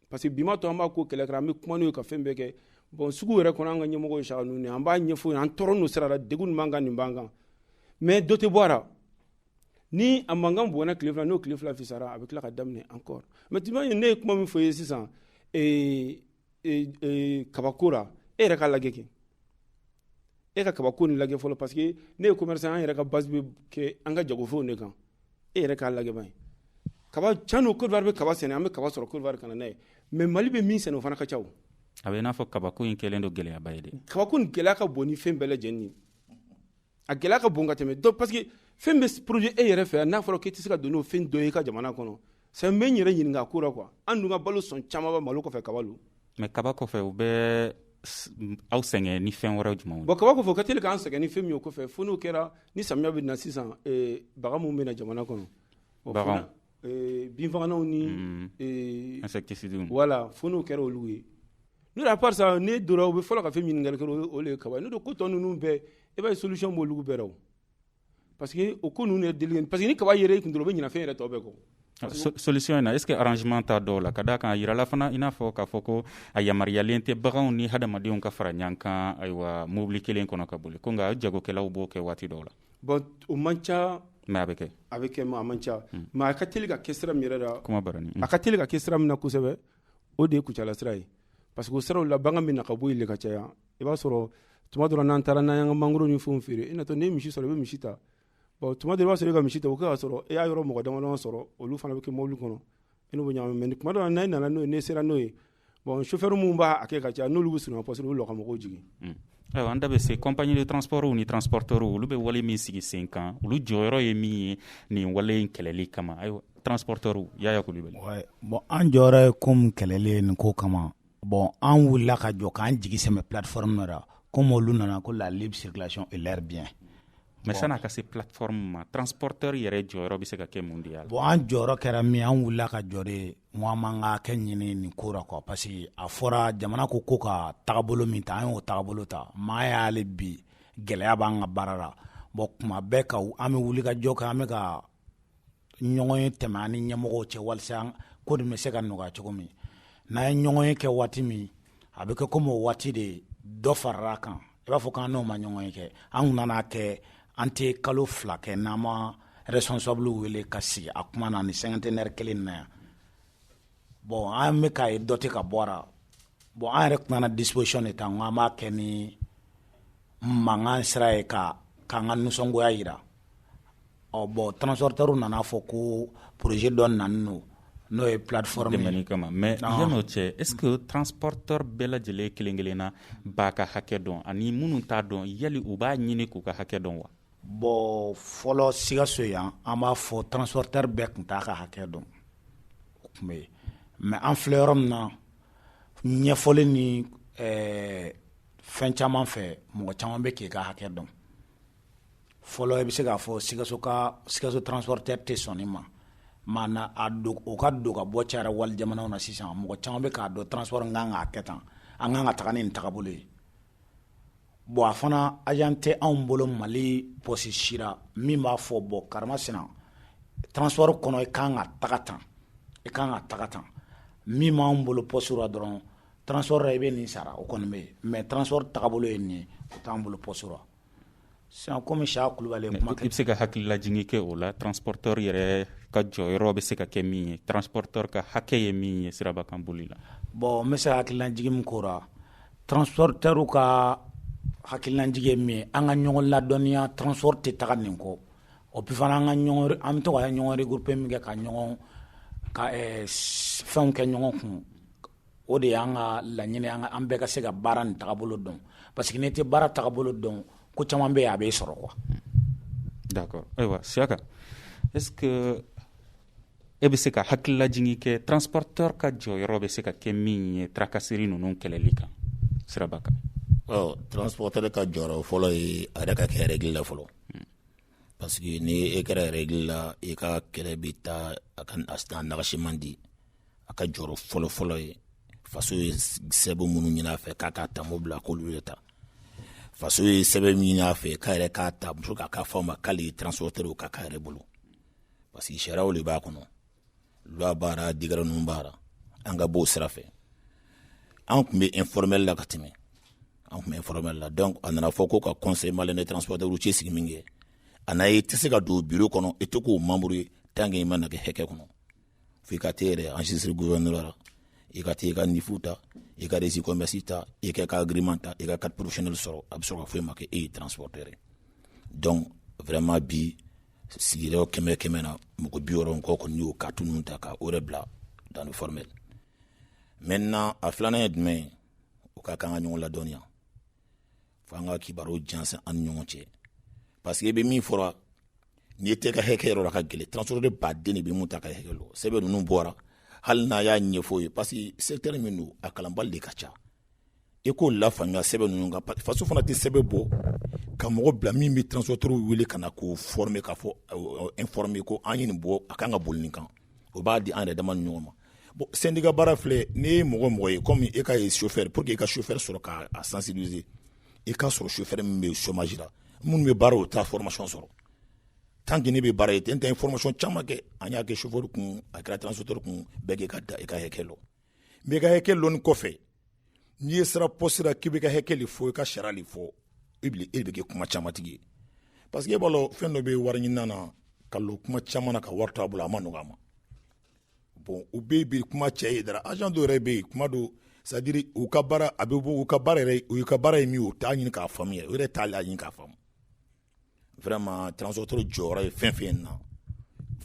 parce que bi ma to an b'a ko kɛlɛ kɛra an bɛ kuma n'u ye ka fɛn bɛɛ kɛ bon sugu yɛrɛ kɔnɔ an ka ɲɛmɔgɔ ye saka ninnu an b'a ɲɛfɔ an tɔɔrɔ n'u sira la degun nin b'an kan nin b'an kan mais dɔ tɛ bɔ a la ni a mankan bɔnna tile fila n'o tile fila fisara a bɛ tila ka daminɛ encore mais tu vois ne ye kuma min fɔ ye sisan ee kabako la e yɛrɛ ka lajɛ kɛ e ka kabako ni lajɛ fɔlɔ parce que ne ye commerçant an yɛrɛ ka base bɛ kɛ an ka jagofɛnw de kan e yɛrɛ k'a lajɛ ban ye kaba can don Côte d'Ivoire bɛ kaba sɛnɛ an bɛ kaba sɔrɔ Côte d'Ivoire ka na n'a ye mais Mali bɛ min sɛnɛ o fana ka ca o a bɛ i n'a fɔ
kabako in kɛlen don gɛlɛyaba ye dɛ kabako in gɛlɛya ka bon
ni fɛn bɛɛ lajɛlen ye a gɛlɛya ka bon ka tɛmɛ donc parce que fɛn bɛ produit e yɛrɛ fɛ yan n'a fɔra k'i tɛ se ka don n'o fɛn dɔ ye i ka jamana kɔnɔ c'est n bɛ n yɛrɛ ɲininka a ko la quoi an dun ka balo sɔn caman bɛ malo kɔfɛ kaba lo mais kaba kɔfɛ
u bɛ aw sɛgɛn ni fɛn wɛrɛ jumɛn bon kaba kɔfɛ o ka teli
k'an sɛgɛn ni fɛn min ye o kɔfɛ fo n'o kɛra ni samiya bɛ na sisan eh, baga minnu bɛ na jamana kɔnɔ bagaw binfagalanw ni
insecticides voilà fo
n'o kɛra olu ye n'o à part ça n'i donna u bɛ fɔlɔ ka fɛn ɲininkali kɛ o ye kaba ye n'o don ko tɔ ninnu bɛɛ i b'a ye solution b'olu bɛɛ la o parce que o ko ninnu deli parce que ni kaba yɛrɛ b'i kun dɔrɔn u bɛ ɲinɛ fɛn yɛrɛ tɔw bɛɛ kɔ solution in
na est ce que arrangement t'a dɔw la ka d'a kan a jirala fana i n'a fɔ k'a fɔ ko a yamaruyalen tɛ baganw ni hadamadenw ka fara ɲɔgɔn kan ayiwa mobili kelen kɔnɔ ka boli ko nka jagokɛlaw b'o kɛ waati dɔw la Bon o
man ca mais a bɛ kɛ a
bɛ kɛ a man
ca mais a ka teli ka kɛ sira min yɛrɛ la kuma a ka teli ka
kɛ sira min
na kosɛbɛ o de ye kucala sira ye parce que o siraw la bagan bɛ na ka bɔ o la ka caya i b'a sɔrɔ tuma dɔ la n'an taara n'an y'an ka mangoro ni fɛn feere i natɔ n'i ye misi sɔrɔ i bɛ misi ta tuma dɔ i b'a sɔrɔ i ka misi ta o y'a sɔrɔ e y'a yɔrɔ mɔgɔ damadama sɔrɔ olu fana bɛ kɛ mobili kɔnɔ n'u bɛ ɲagami tuma dɔ n'i nana n'o ye n'i sera n'o ye bon chauffeur mun b'a kɛ ka caya n'olu bɛ surunya parce que olu ka mɔgɔw jigin hmm. ayiwa an da
bɛ se compagnie de transport ni transporteur olu bɛ wale min sigi sen kan olu jɔyɔrɔ ye min ye nin wale in kɛlɛli kama ayiwa transporteur yaya kulubali ouais. bon an jɔyɔrɔ
ye comme kɛlɛli ye nin ko kama bon an wulila ka jɔ k'an jigi sɛmɛ plateforme dɔ la comme olu nana ko la libre circulation et leurs biens mais bon. san'a ka
se plateforme ma transporteur yɛrɛ jɔyɔrɔ bɛ se ka kɛ mun de y'a la bon an jɔyɔrɔ kɛra min
an wulila ka jɔ de Mɔgɔ man ka kɛ ɲini nin ko la quoi parce que a fɔra jamana ko ko ka tagabolo min ta an y'o tagabolo ta mais hali bi gɛlɛya b'an ka baara la bon tuma bɛɛ ka an bɛ wuli ka jɔ kɛ an bɛ ka ɲɔgɔnye tɛmɛ an ni ɲɛmɔgɔw cɛ walasa ko de bɛ se ka nɔgɔya cogo min n'an ye ɲɔgɔnye kɛ waati min a bɛ kɛ komi o waati de dɔ farala kan i b'a fɔ k'an n'o ma ɲɔgɔnye kɛ an kun nan'a kɛ an tɛ kalo fila kɛ n'an ma responsable wele ka sigi a kuma na ni cinquantenaire kelen na yan bon an bɛ k'a ye dɔ tɛ ka bɔ a la bon an yɛrɛ tun nana disposition de ta n ko an b'a kɛ ni mankan sira ye ka k'an ka nisɔngoya jira ɔ bon transporteur nan'a fɔ ko projet dɔ nalen don n'o ye plateforme nin kama
mais yan'o cɛ est ce que transporteur bɛɛ lajɛlen kelen kelenna b'a ka hakɛ dɔn ani minnu t'a dɔn yali u b'a ɲini k'u ka hakɛ dɔn wa
bon fɔlɔ Sikaso yan an b'a fɔ transporteur bɛɛ tun t'a ka hakɛ dɔn o tun bɛ yen mais an filɛ yɔrɔ min na ɲɛfɔli ni fɛn caman fɛ mɔgɔ caman bɛ k'i ka hakɛ dɔn fɔlɔ i bɛ se k'a fɔ sikaso ka sikaso transporteur tɛ sɔn nin ma maana a don o ka don ka bɔ cayara wali jamanaw na sisan mɔgɔ caman bɛ k'a dɔn transport kan ka kɛ tan an kan ka taga ni nin tagabolo ye bon a fana agent tɛ anw bolo mali pɔsi si la min b'a fɔ bon karama sinan transport kɔnɔ i kan ka taga tan i kan ka taga tan min b'anw bolo pɔsi la dɔrɔn transport la i bɛ nin sara o kɔni bɛ yen mais transport tagabolo ye nin ye o t'an bolo pɔsi la Sisan ko monsieur kulubali kuma i bɛ se ka hakililajigin
kɛ o la transporteur yɛrɛ ka jɔyɔrɔ bɛ se ka kɛ min ye transporteur ka hakɛ ye min ye siraba kan boli la bon n bɛ se ka hakililajigin min k'o
la transporteurw ka hakililajigin ye min ye an ka ɲɔgɔn ladɔnniya transport tɛ taga nin kɔ et puis fana an ka an bɛ to ka ɲɔgɔn regrouper min kɛ ka ɲɔgɔn ka fɛnw kɛ ɲɔgɔn kun o de y'an ka laɲini an an bɛɛ ka se ka baara nin tagabolo dɔn parce que n'i tɛ baara tagabolo dɔn ko caman bɛ yen a bɛ sɔrɔ
quoi d'accord ayiwa siyaka est-ce que e bɛ se ka hakililajigin kɛ transporteur ka jɔyɔrɔ bɛ se ka kɛ min ye tracasserie ninnu kɛlɛli kan siraba kan ɔ
transporteur ka jɔyɔrɔ fɔlɔ ye a yɛrɛ ka kɛ règle la fɔlɔ hmm. parce que ni e kɛra règle la i ka kɛlɛ bɛ taa a ka a nagasi man di a ka jɔyɔrɔ fɔlɔfɔlɔ ye faso ye sɛbɛn minnu ɲini a fɛ k'a k'a ta mobili la k'olu de ta faso ye sɛbɛn min ɲini a fɛ k'a yɛrɛ k'a ta muso k'a ka fɔ a ma k'ale ye transporteur ka k'a yɛrɛ bolo parce que sariyaw de b'a kɔnɔ loi bɔra décret ninnu bɔra an ka bɔ o sira fɛ an tun bɛ informel la ka tɛmɛ an tun bɛ informel la donc a nana fɔ ko ka conseil malien des transporteurs routiers sigi min kɛ a n'a ye i tɛ se ka don bureau kɔnɔ i tɛ k'o membre ye tant que i ma na kɛ hɛkɛ kɔnɔ fo i ka t'i yɛrɛ enregistrer gouverneur la i ka taa i ka NIF ta i ka registre commerce ta i ka agrément ta i ka carte professionnelle sɔrɔ a bɛ sɔrɔ ka fɔ i ma ko e ye transporteur ye donc vraiment bi sigiyɔrɔ kɛmɛ kɛmɛ na mɔgɔ bi wɔɔrɔ ni kɔ kɔni y'o carte ninnu ta ka o yɛrɛ bila dans le formel maintenant a filanan ye jumɛn ye o ka kan ka ɲɔgɔn ladɔnniya fo an ka kibaruw jansan an ni ɲɔgɔn cɛ parce que i bɛ min fɔra n'i yɛrɛ t'i ka hɛkɛ yɔrɔ lɔn a ka gɛlɛn transporteur baden de bɛ min t'a ka hɛkɛ lɔn sɛbɛn ninnu bɔra hali n'a y'a ɲɛfɔ ye parce que secteur min don a kalanbali de ka ca i k'o lafaamuya sɛbɛn ninnu kan faso fana tɛ sɛbɛn bɔ ka mɔgɔ bila min bɛ transporteur wele ka na k'o former ka fɔ informer ko an ye nin bɔ a kan ka boli nin kan o b'a di an yɛrɛ dama ni ɲɔgɔn ma Bon syndicat baara filɛ n'i ye mɔgɔ mɔgɔ ye komi e ka ye chauffeur pour que i ka chauffeur sɔrɔ k'a sensibiliser i ka sɔrɔ chauffeur min bɛ chômage la minnu bɛ baara o taa formation sɔrɔ tant que ne bɛ baara ye n tɛ formation caman kɛ an y'a kɛ chauffeur kun a kɛra transporteur kun bɛɛ k'i ka droit i ka hakɛ lɔ mais i ka hakɛ lɔni kɔfɛ ni e sera poste la k'i bɛ ka hakɛ de fɔ i ka sariya de fɔ e bɛ e bɛ kɛ kuma camantigi ye parce que e b'a dɔn fɛn dɔ bɛ wari ɲinina na ka kuma caman na ka wari t'a bolo a ma nɔgɔ a ma bon u bɛ bi kuma cɛ ye dara agent dɔw yɛrɛ bɛ yen kuma dɔ c'est-à-dire u ka baara a bɛ bɔ u ka baara yɛrɛ u ka baara ye min u t'a ɲini k'a faamu yɛrɛ u yɛrɛ t'a laɲini k'a faamu vraiment transporteur jɔyɔrɔ ye fɛn fɛn na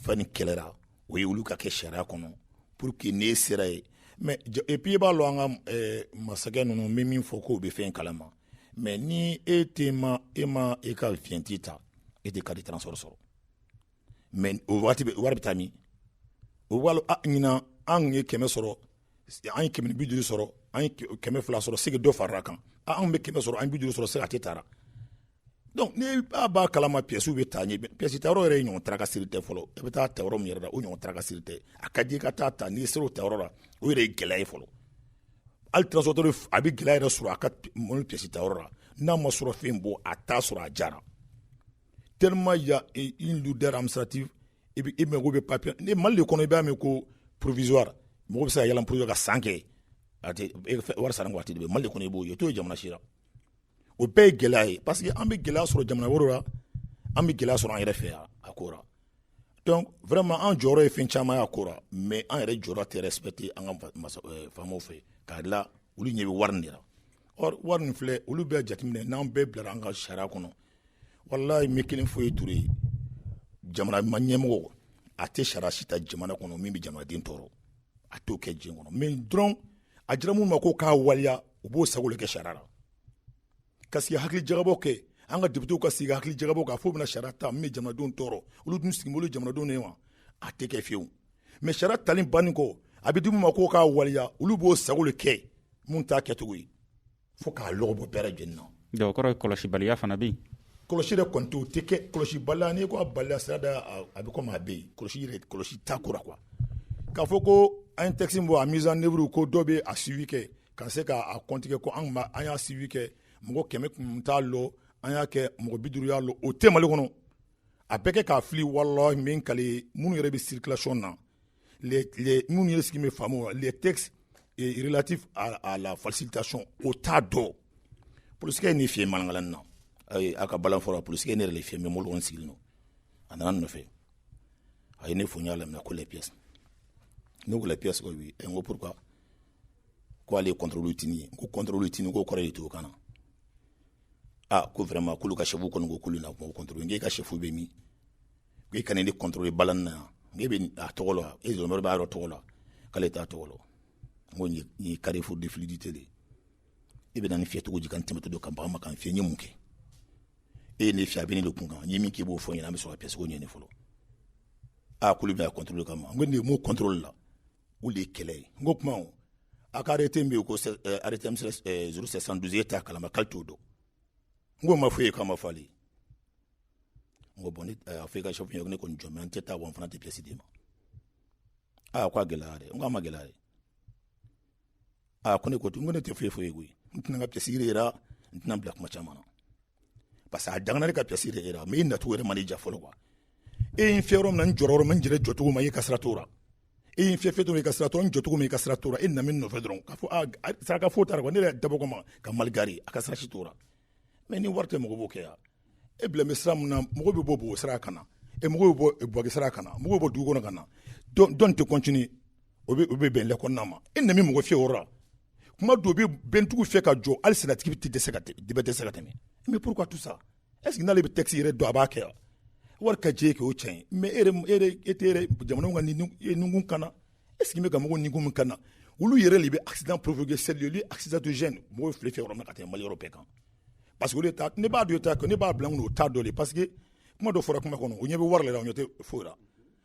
fɛn nin kɛlɛra o ye olu ka kɛ sariya kɔnɔ pour que n'i sera yen mais et puis i b'a lɔn an ka eh, masakɛ ninnu bɛ min fɔ k'o bɛ fɛn kalama mais ni e tɛ ma e ma e ka vignette ta e tɛ carte transport sɔrɔ mais o waati wari bɛ taa min o b'a lɔ ɲinan an ye kɛmɛ sɔrɔ an ye kɛmɛ ni bi duuru sɔrɔ an ye kɛmɛ fila sɔrɔ c'est que dɔ farala a kan anw bɛ kɛmɛ sɔrɔ an ye bi duuru sɔrɔ c'est que a tɛ taara donc ni b'a b'a kalama pièces bɛ taa ɲɛ pièces ta yɔrɔ yɛrɛ ye ɲɔgɔn tracasserie tɛ fɔlɔ i bɛ taa ta yɔrɔ min yɛrɛ la o ɲɔgɔn tracasserie tɛ a ka di ka taa ta n'i sera o ta yɔrɔ la o yɛrɛ ye gɛlɛya ye fɔlɔ hali transporteur a bɛ gɛlɛya yɛrɛ sɔrɔ a ka mobili pièces ta yɔrɔ la n'a ma sɔrɔ fɛn bɔ a t'a sɔrɔ a jara tellement il y a une lourdeur administrative et puis e mago bɛ papier ni Mali de kɔnɔ i b'a mɛn ko provisoire mɔgɔ bɛ se ka yɛlɛn provisoire ka san kɛ a tɛ wari sara ni waati de bɛ Mali de kɔnɔ i b'o ye o t'o ye jamana si la o bɛɛ ye gɛlɛya ye parce que an bɛ gɛlɛya sɔrɔ jamana wɛrɛw la an bɛ gɛlɛya sɔrɔ an yɛrɛ fɛ yan a ko la donc vraiment an jɔyɔrɔ ye fɛn caman y'a ko la mais an yɛrɛ jɔyɔrɔ tɛ respecter an ka euh, faamaw fɛ k'a la olu ɲɛ bɛ wari de la or wari nin filɛ olu bɛɛ jateminɛ n'an bɛɛ bilara an ka sariya kɔnɔ walayi n bɛ kelen fɔ i ye Ture jamana ma ɲɛmɔgɔ a tɛ sariya si ta jamana kɔnɔ min bɛ jamanaden tɔɔrɔ a t'o kɛ diɲɛ kɔnɔ mais dɔrɔn a dira minnu ma ko k'a waleya u b'o sago de kɛ sariya la ka sigi hakili jagabɔ kɛ an ka députéw ka sigi hakili jagabɔ k'a fɔ bɛna sariya ta min bɛ jamanadenw tɔɔrɔ olu dun sigi bolo jamanadenw ye wa a tɛ kɛ fiyewu mais sariya tali bannen kɔ a bɛ di minnu ma ko k'a waleya olu b'o sago de kɛ mun t'a kɛcogo ye fo k'a lɔgɔ bɔ bɛɛ lajɛlen na donc o kɔrɔ ye
kɔlɔsibaliya fana bɛ yen kɔlɔsi yɛrɛ kɔni
tɛ o tɛ kɛ kɔlɔsibaliya n'i ko a baliya sira da a bɛ komi a bɛ yen kɔlɔsi yɛrɛ kɔlɔsi t'a ko la quoi k'a fɔ ko an ye texte min bɔ a mise en œuvre ko dɔ bɛ a suivi kɛ ka se k'a kɔntigɛ ko an b'a an y'a suivi kɛ mɔgɔ kɛmɛ kun t'a lɔ an y'a kɛ mɔgɔ bi duuru y'a lɔ o tɛ Mali kɔnɔ a bɛɛ kɛ k'a fili walahi min kali minnu yɛrɛ bɛ circulation na minnu ye sigi bɛ faamu le tɛlati a la fasi ka sɔn o t dɔn pkɛ in ni fi mankala na a ka bala fɔlɔ pkɛ ne yɛrɛ fi min bolo sigilen don a nana nɔfɛ a ye ne f y'a laminɛ ko lɛpsi ne ko lɛpsi n ko pur k'ale yetinin ko kɔntitinin ko kɔrɔ ye to kana na aa ko fɛrɛma kulu ka segu kɔni ko kulu na kɔntoro n' ka sefu bɛ min i kana ne contrôler bala na e bɛ tɔgɔ la e b'a yɔrɔ tɔgɔ la k'ale t'a tɔgɔ la ko carrefour de fluidité de e bɛ ne fiyɛ cogo di ka n tɛmɛtɔ don ka baga n ma ka n fiyɛ n ye mun kɛ e ye ne fiyɛ a bɛ ne de kun kan n ye min k'i b'o fɔ n ɲɛna an bɛ sɔrɔ ka pièce ko ɲini fɔlɔ aa k'olu bɛ contrôle kama n ko nin mun contrôle la o de ye kɛlɛ ye n ko kuma a ka arrêté bɛ yen ko arrêté zéro sept cent douze e t'a kalama k'ale t'o dɔn n k'a ma fɔ e ye k'a ma fɔ ale ye n ko bon ne a fɔ i ka chef ye ne kɔni jɔ mais n tɛ taa wa n fana tɛ pièce d'i ma aa ko a gɛlɛya dɛ n ko a ma gɛlɛya dɛ aa ko ne ko n ko ne tɛ foyi foyi koyi n tɛna n ka pièce yɛrɛ yira n tɛna bila kuma caman na parce que a dangana ne ka pièce yɛrɛ yira mais i nacogo yɛrɛ ma ne ja fɔlɔ quoi e ye n fiyɛ yɔrɔ min na n jɔra yɔrɔ min n jɛrɛ jɔcogo ma i ka sira t'o la e ye n fiyɛ fiyɛ dɔrɔn i ka sira t'o la n jɔcogo ma i ka sira t'o la e nana min nɔfɛ dɔrɔn k'a fɔ a saraka foyi t'a la quoi ne yɛrɛ dabɔ kama ka mal garer a ka sira si t'o la mais ni wari tɛ mɔgɔ b'o kɛ yan e bila bɛ sira min na mɔgɔ bɛ bɔ Bobo sira ka na e mɔgɔ bɛ bɔ Buwake sira ka na mɔgɔ bɛ bɔ dugu kɔnɔ ka na dɔn tɛ continuer o bɛ bɛn le kɔnɔna ma e na mɔgɔ fiyɛ o la kuma dɔw bɛ bɛntigiw fɛ ka jɔ hali sennatigi tɛ dɛsɛ ka dibɛ dɛsɛ se ka tɛmɛ mais pourquoi tout ça est-ce que n'ale bɛ texte yɛrɛ dɔn a b'a kɛ yan wari ka jɛ k'o cɛn mais e e tɛ jamana ka nikun kana est-ce qu'i bɛ ka mɔgɔw nikun min kana olu yɛrɛ de bɛ accident provoquer c'est lieu accidentogène mɔgɔ bɛ file fiyɛ yɔrɔ min ka tɛmɛ Mali yɔrɔ bɛɛ kan parce que ne b'a dɔn ta ne b'a bila o t'a dɔn parce que kuma dɔ fɔra kuma kɔnɔ o ɲɛ bɛ wari la o ɲɛ tɛ foyi la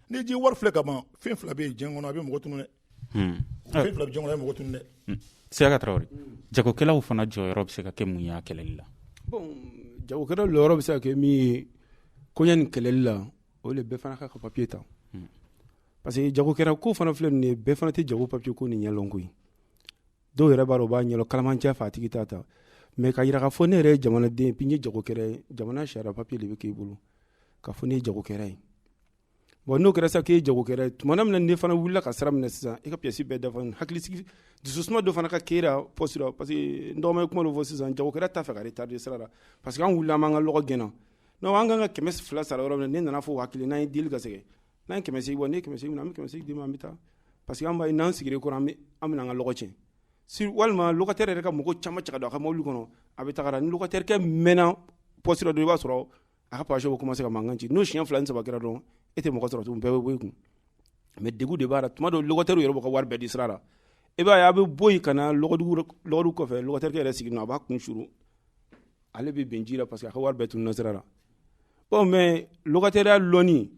n'i ye wari filɛ ka ban fɛn fila bɛ diɲɛ kɔnɔ a bɛ mɔgɔ tunu dɛ hmm. fɛn fila bɛ diɲɛ kɔnɔ a bɛ mɔgɔ tunu dɛ hmm. Siyaka Tarawele
jagokɛlaw fana jɔyɔrɔ bɛ se ka kɛ mun ye a kɛlɛli la
bon jagokɛlaw jɔyɔrɔ bɛ se ka kɛ min ye koɲɛ nin kɛlɛli la o de bɛɛ fana ka ka papiye ta hmm. parce que jagokɛla ko fana filɛ nin ye bɛɛ fana tɛ jago papiye ko nin ɲɛlɔn koyi dɔw yɛrɛ b'a dɔn u b'a ɲɛlɔn kalamancɛ fɛ a tigi t'a ta mais ka jira k'a fɔ ne yɛrɛ ye jamanaden ye jagokɛla ye jamana sariya papiye de bɛ k'i bolo k'a fɔ ne ye jagokɛla ye bon n'o kɛra sa k'i ye jagokɛla ye tuma min ne fana wulila ka sira minɛ sisan i ka pièce bɛɛ dafa hakilisigi dususuma dɔ fana ka k'i la poste la parce que n dɔgɔ ye kuma dɔ fɔ sisan jagokɛla t'a fɛ ka retarder sira la parce que an wulila an b'an ka lɔgɔ gɛnna n' an ka kan ka kɛmɛ fila sara yɔrɔ min ne nana fɔ hakili n'a ye deli ka segin n'an ye kɛmɛ fila bɔ ne ye kɛmɛ fila an bɛ kɛmɛ fila d'i ma an bɛ taa parce que an b'a ye n'an sigi kɔrɔ an an bɛ an ka lɔgɔ tiɲɛ walima locataire yɛrɛ ka mɔgɔ caman cɛ don a ka mobili kɔnɔ a bɛ taa ni locataire kɛ mɛnna poste la dɔrɔn i b'a sɔrɔ a ka passagers bɛ commencer ka mankan ci n'o siɲɛ fila ni saba kɛra dɔrɔn e tɛ mɔgɔ sɔrɔ tugun bɛɛ bɛ bɔ i kun mais degun de b'a la tuma dɔw locataire yɛrɛ b'a ka wari bɛɛ di sira la i b'a ye a bɛ bɔ ka na lɔgɔdugu kɔfɛ locataire yɛrɛ sigi a b'a kun s ale bɛ bɛn ji la parce que a ka wari bɛɛ tununna sira la bon mais sariya lɔnni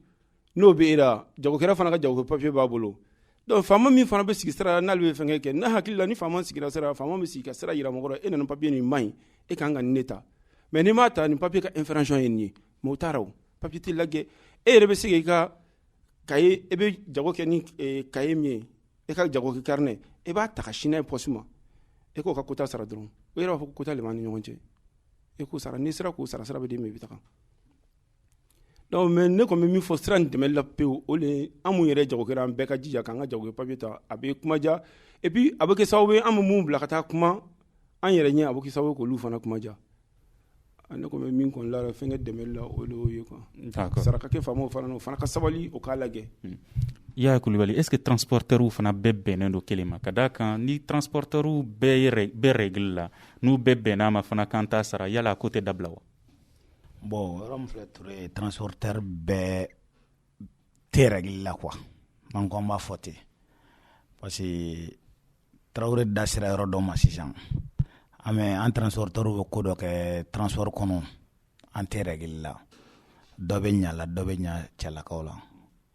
n'o bɛ e la jagokɛla fana ka jago papiye b'a bolo donc faama min fana bɛ sigi sira la n'ale bɛ fɛn kɛ ne hakili la ni faama sigira sira la faama bɛ sigi ka sira jira mɔgɔ la e nana papiye nin man ɲi e ka kan ka nin ne ta mais n'i m'a ta nin papiye ka infraction ye nin ye mais o taara o papiye tɛ lajɛ e yɛrɛ bɛ se k'i ka cahier e bɛ jago kɛ ni cahier min ye e ka jago kɛ carnet e b'a ta ka sin n'a ye poste ma e k'o ka quota sara dɔrɔn o yɛrɛ b'a fɔ ko quota le b'an ni ɲɔgɔn cɛ e k'o sara n'i sera k'o sara sira bɛ d'i ma i bɛ taga donc mais ne kɔni bɛ min fɔ sira nin dɛmɛli la pewu o le an mun yɛrɛ jagokɛra an bɛɛ ka jija k'an ka jago papiye ta a bɛ kuma diya et puis a bɛ kɛ sababu ye an bɛ mun bila ka taa kuma an yɛrɛ ɲɛ a bɛ kɛ sababu ye k'olu fana kuma diya ne kɔni bɛ min kɔni la fɛn dɛmɛli la o ye sarakati faamaw fana o fana ka sabali o k'a lajɛ hmm.
Yaya Kulubali est-ce que transporteurs fana bɛɛ bɛnnen don kelen ma ka d'a kan ni transporteurs bɛɛ bɛ règle la n'u bɛɛ bɛnn'a ma fana k'an t'a sara yala a ko tɛ dabila wa bon
yɔrɔ min filɛ Ture transporteur bɛɛ tɛ règle la quoi an ko an b'a fɔ ten parce Tarawele da sera yɔrɔ dɔ ma sisan an an transporteurs bɛ ko dɔ kɛ transport kɔnɔ an tɛ règle la dɔ bɛ ɲa la dɔ bɛ ɲa cɛlakaw la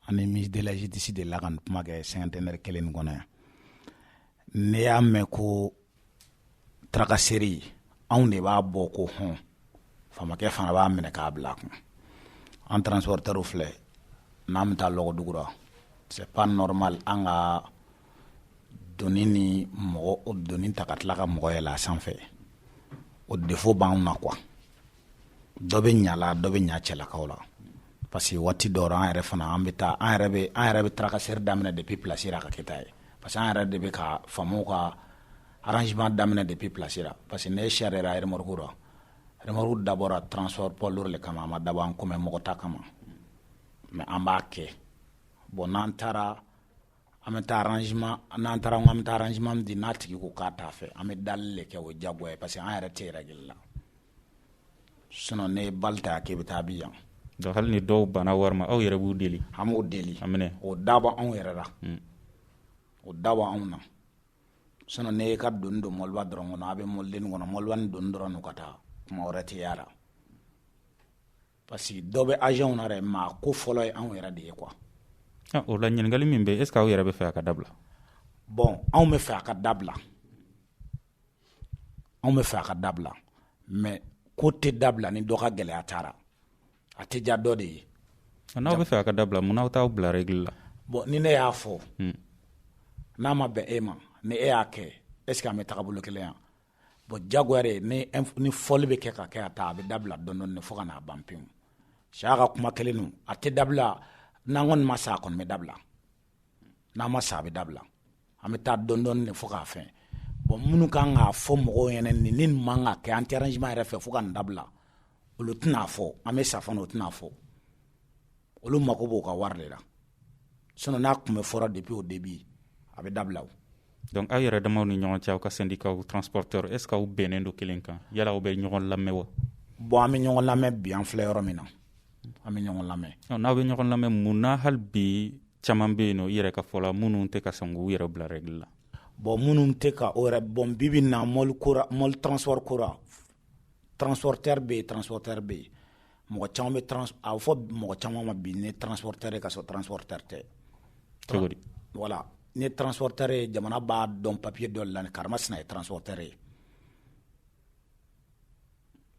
ani ministre de la justice de la ka kuma kɛ cinquantenaire kelen nin kɔnɔ yan ne y'a mɛn ko tracasserie anw de b'a bɔ ko hɔn faamakɛ fana b'a minɛ k'a bila kun an transporteurs filɛ n'an bɛ taa lɔgɔdugura c'est pas normal an ka doni ni mɔgɔ o doni ta ka tila ka mɔgɔ yɛlɛ a sanfɛ o défaut b'anw na quoi dɔ bɛ ɲa la dɔ bɛ ɲa cɛlakaw la parce que waati dɔw an yɛrɛ fana an bɛ taa an yɛrɛ bɛ an yɛrɛ bɛ tracasserie daminɛ depuis place la ka kɛ ta ye parce que an yɛrɛ de bɛ ka faamaw ka arrangement daminɛ depuis place la parce que ne sariya la remorque la remorque dabɔra transport poids lourd de kama a ma dabɔ an kɔmi mɔgɔ ta kama mais an b'a kɛ bon n'an taara an bɛ taa arrangement n'an taara an bɛ taa arrangement di n'a tigi ko k'a t'a fɛ an bɛ deli de kɛ o diyagoya ye parce que an yɛrɛ tɛ règle la sinon ne bali ta k'i bɛ taa bi yan donc hali ni dɔw
banna wari ma aw yɛrɛ b'u deli an b'o deli
o dabɔ
anw yɛrɛ
la o dabɔ anw na sinon n'e y'i ka doni don mɔliba dɔrɔn kɔnɔ a bɛ mɔliden kɔnɔ mɔliba ni doni dɔrɔn ka taa kuma wɛrɛ tɛ y'a la parce que dɔ bɛ agents na dɛ mais a ko fɔlɔ ye anw yɛrɛ de ye quoi ah, o
la ɲininkali min bɛ est ce que aw yɛrɛ bɛ fɛ a ka dabila
bon anw bɛ fɛ a ka dabila anw bɛ fɛ a ka dabila mais ko tɛ dabila ni dɔ ka gɛlɛya taara a tɛ diya dɔ de ye n'aw bɛ fɛ
a ka dabila mun n'aw t'aw bila règle la bon ni ne y'a fɔ
hmm. n'a ma bɛn e ma ni e y'a kɛ est ce que an bɛ taga bolo kelen yan bon diyagoya de ni fɔli bɛ kɛ ka kɛ a ta a bɛ dabila dɔɔni dɔɔni fo ka n'a ban pewu Siaka kuma kelen don a tɛ dabila n'an kɔni ma sa a kɔni bɛ dabila N'an ma sa a bɛ dabila an bɛ taa dɔɔni dɔɔni fo k'a fɛn bon minnu ka kan k'a fɔ mɔgɔw ɲɛna ni nin man ka kɛ an tɛ arrangement yɛrɛ fɛ fo ka nin dabila olu tɛn'a fɔ an bɛ sa fana o tɛn'a fɔ olu mago b'o ka wari de la sinon n'a tun bɛ fɔra depuis au début a bɛ dabila Donc aw
yɛrɛ damaw ni ɲɔgɔn cɛ aw ka syndicat transporteur est ce que aw bɛnnen don kelen kan yala aw bɛ ɲɔgɔn lamɛn wa bon an bɛ ɲɔgɔn
lamɛn bi an filɛ yɔrɔ min na an bɛ ɲɔgɔn lamɛn n'aw bɛ ɲɔgɔn lamɛn
mun na hali bi caman bɛ yen nɔ i yɛrɛ ka fɔ la minnu tɛ ka sɔn k'u yɛrɛ bila règle la bon minnu
tɛ ka o yɛrɛ bon bi bi na mɔli ko ra mɔli transport ko ra transporteur bɛ yen transporteur bɛ yen mɔgɔ caman bɛ trans a bɛ fɔ mɔgɔ caman ma bi ni transporteur ye ka sɔrɔ transporteur tɛ. Cogo di?
Voilà n'i ye
transporteur ye jamana b'a dɔn papier dɔ de la ni karimasina ye transporteur ye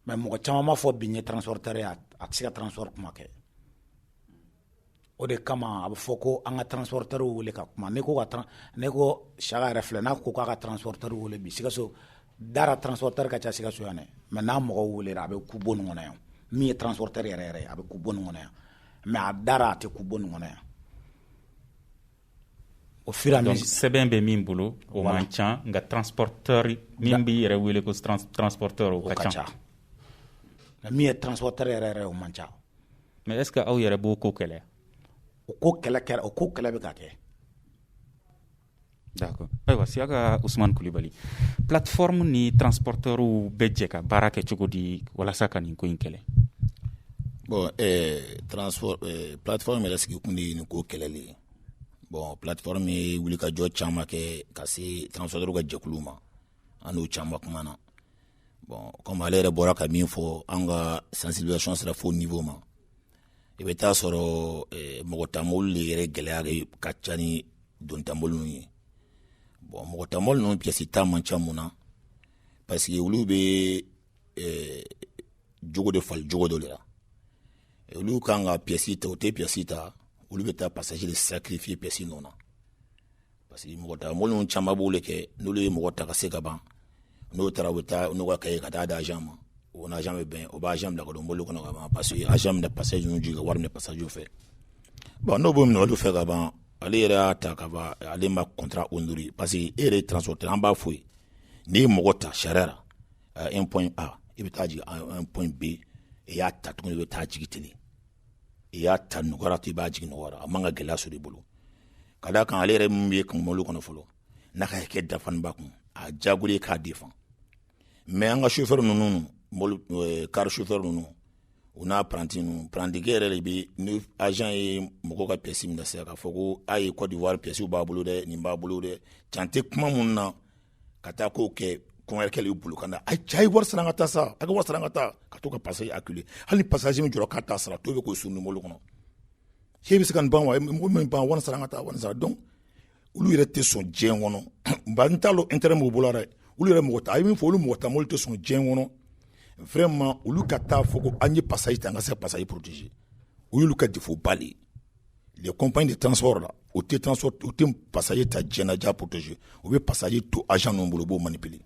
mais mɔgɔ caman b'a fɔ bi n ye transporteur ye a tɛ se ka transport kuma kɛ. o de kama a bɛ fɔ ko an ka transporteur wele ka kuma n'i ko ka tran n'i ko Siaka yɛrɛ filɛ n'a ko k'a ka transporteur wele bi Sikaso da la transporteur ka ca Sikaso yan dɛ mais n'a mɔgɔ welela a bɛ kun bon nin kɔnɔ yan min ye transporteur yɛrɛ yɛrɛ ye a bɛ kun bon nin kɔnɔ yan mais a da la a tɛ kun bon nin kɔnɔ yan o fira donc sɛbɛn bɛ min
bolo o man ca nka transporteur min b'i yɛrɛ wele ko transporteur o ka ca nka
min ye transporteur yɛrɛ yɛrɛ o man ca mais est ce que
aw yɛrɛ b'o ko kɛlɛ o ko
kɛlɛ kɛra o ko kɛlɛ bɛ ka
kɛ d'accord ayiwa Siaka Usumani Kulibali plateforme ni transporteurw bɛ jɛ ka baara kɛ cogo di walasa ka nin ko in kɛlɛ bon
eh, transport eh, plateforme yɛrɛ sigikun de ye nin ko kɛlɛli ye bon plateforme ye wuli ka jɔ caman kɛ ka se transporteur ka jɛkulu ma an n'o caman kumana bon comme ale yɛrɛ bɔra ka min fɔ an ka sensibilisation sera fo niveau ma i bɛ taa sɔrɔ eh, mɔgɔ ta mɔliw de yɛrɛ gɛlɛya de ka ca ni doni ta mɔliw ye bon mɔgɔ ta mɔli ninnu pièce ta man ca mun na parce que olu bɛ eh, jogo de fali jogo dɔ de la olu kan ka pièce ta u tɛ pièce ta olu bɛ taa passager de sacrifier pièce nɔ na parce que mɔgɔ ta mobili ninnu caman b'o de kɛ n'olu ye mɔgɔ ta ka se ka ban n'o taara u bɛ taa n'u ka kɛ ka taa d'agent ma o n'agent bɛ bɛn o b'a bila ka don mobili kɔnɔ ka ban parce que agent bɛna passager jigin ka wari minɛ passager fɛ bon n'o b'o minɛ olu fɛ ka ban ale yɛrɛ y'a ta ka ban ale ma contrat honorer parce que e yɛrɛ transporteur an b'a fɔ i ye n'i ye mɔgɔ ta sariya un point A i bɛ taa jigin un point B i y'a ta tuguni i bɛ taa jigin ten i y'a ta nɔgɔya ra to i b'a jigin nɔgɔya ra a man ka gɛlɛya sɔrɔ i bolo ka d'a kan ale yɛrɛ min ye kun mobili kɔnɔ fɔlɔ n'a ka kɛ dafalen b'a kun a jagoya k'a défendre mais an ka chauffeur ninnu eh, car chauffeur ninnu u n'apprenti ninnu prantikɛ yɛrɛ de bɛ ni agent ye mɔgɔ ka pièce minɛ sa k'a fɔ ko a ye Côte d'Ivoire pièce b'a bolo dɛ nin b'a bolo dɛ can tɛ kuma minnu na ka taa k'o kɛ kɔnkɛkɛ y'i bolo ka na a cɛ ye wari sara an ka taa sa a ka wari sara an ka taa ka to ka passager acculer hali passager min jɔra k'a t'a sara to bɛ k'o sun numu kɔnɔ cɛ bɛ se ka ban wa mɔgɔ min ban wari sara an ka taa wari sara donc olu yɛrɛ tɛ sɔn diɲɛ kɔnɔ nka n t'a dɔn intérêt mun b'u bolo dɛ olu yɛrɛ mɔgɔ ta a ye min fɔ olu mɔgɔ ta mobili tɛ sɔn diɲɛ kɔnɔ vraiment olu ka taa fɔ ko an ye passager ta an ka se ka passager protéger o y'olu ka défaut ba le les compagnies de transport là u tɛ transport u tɛ passager ta diɲɛ na k'a protéger u bɛ passager to agent ninnu bolo u b'o manipuler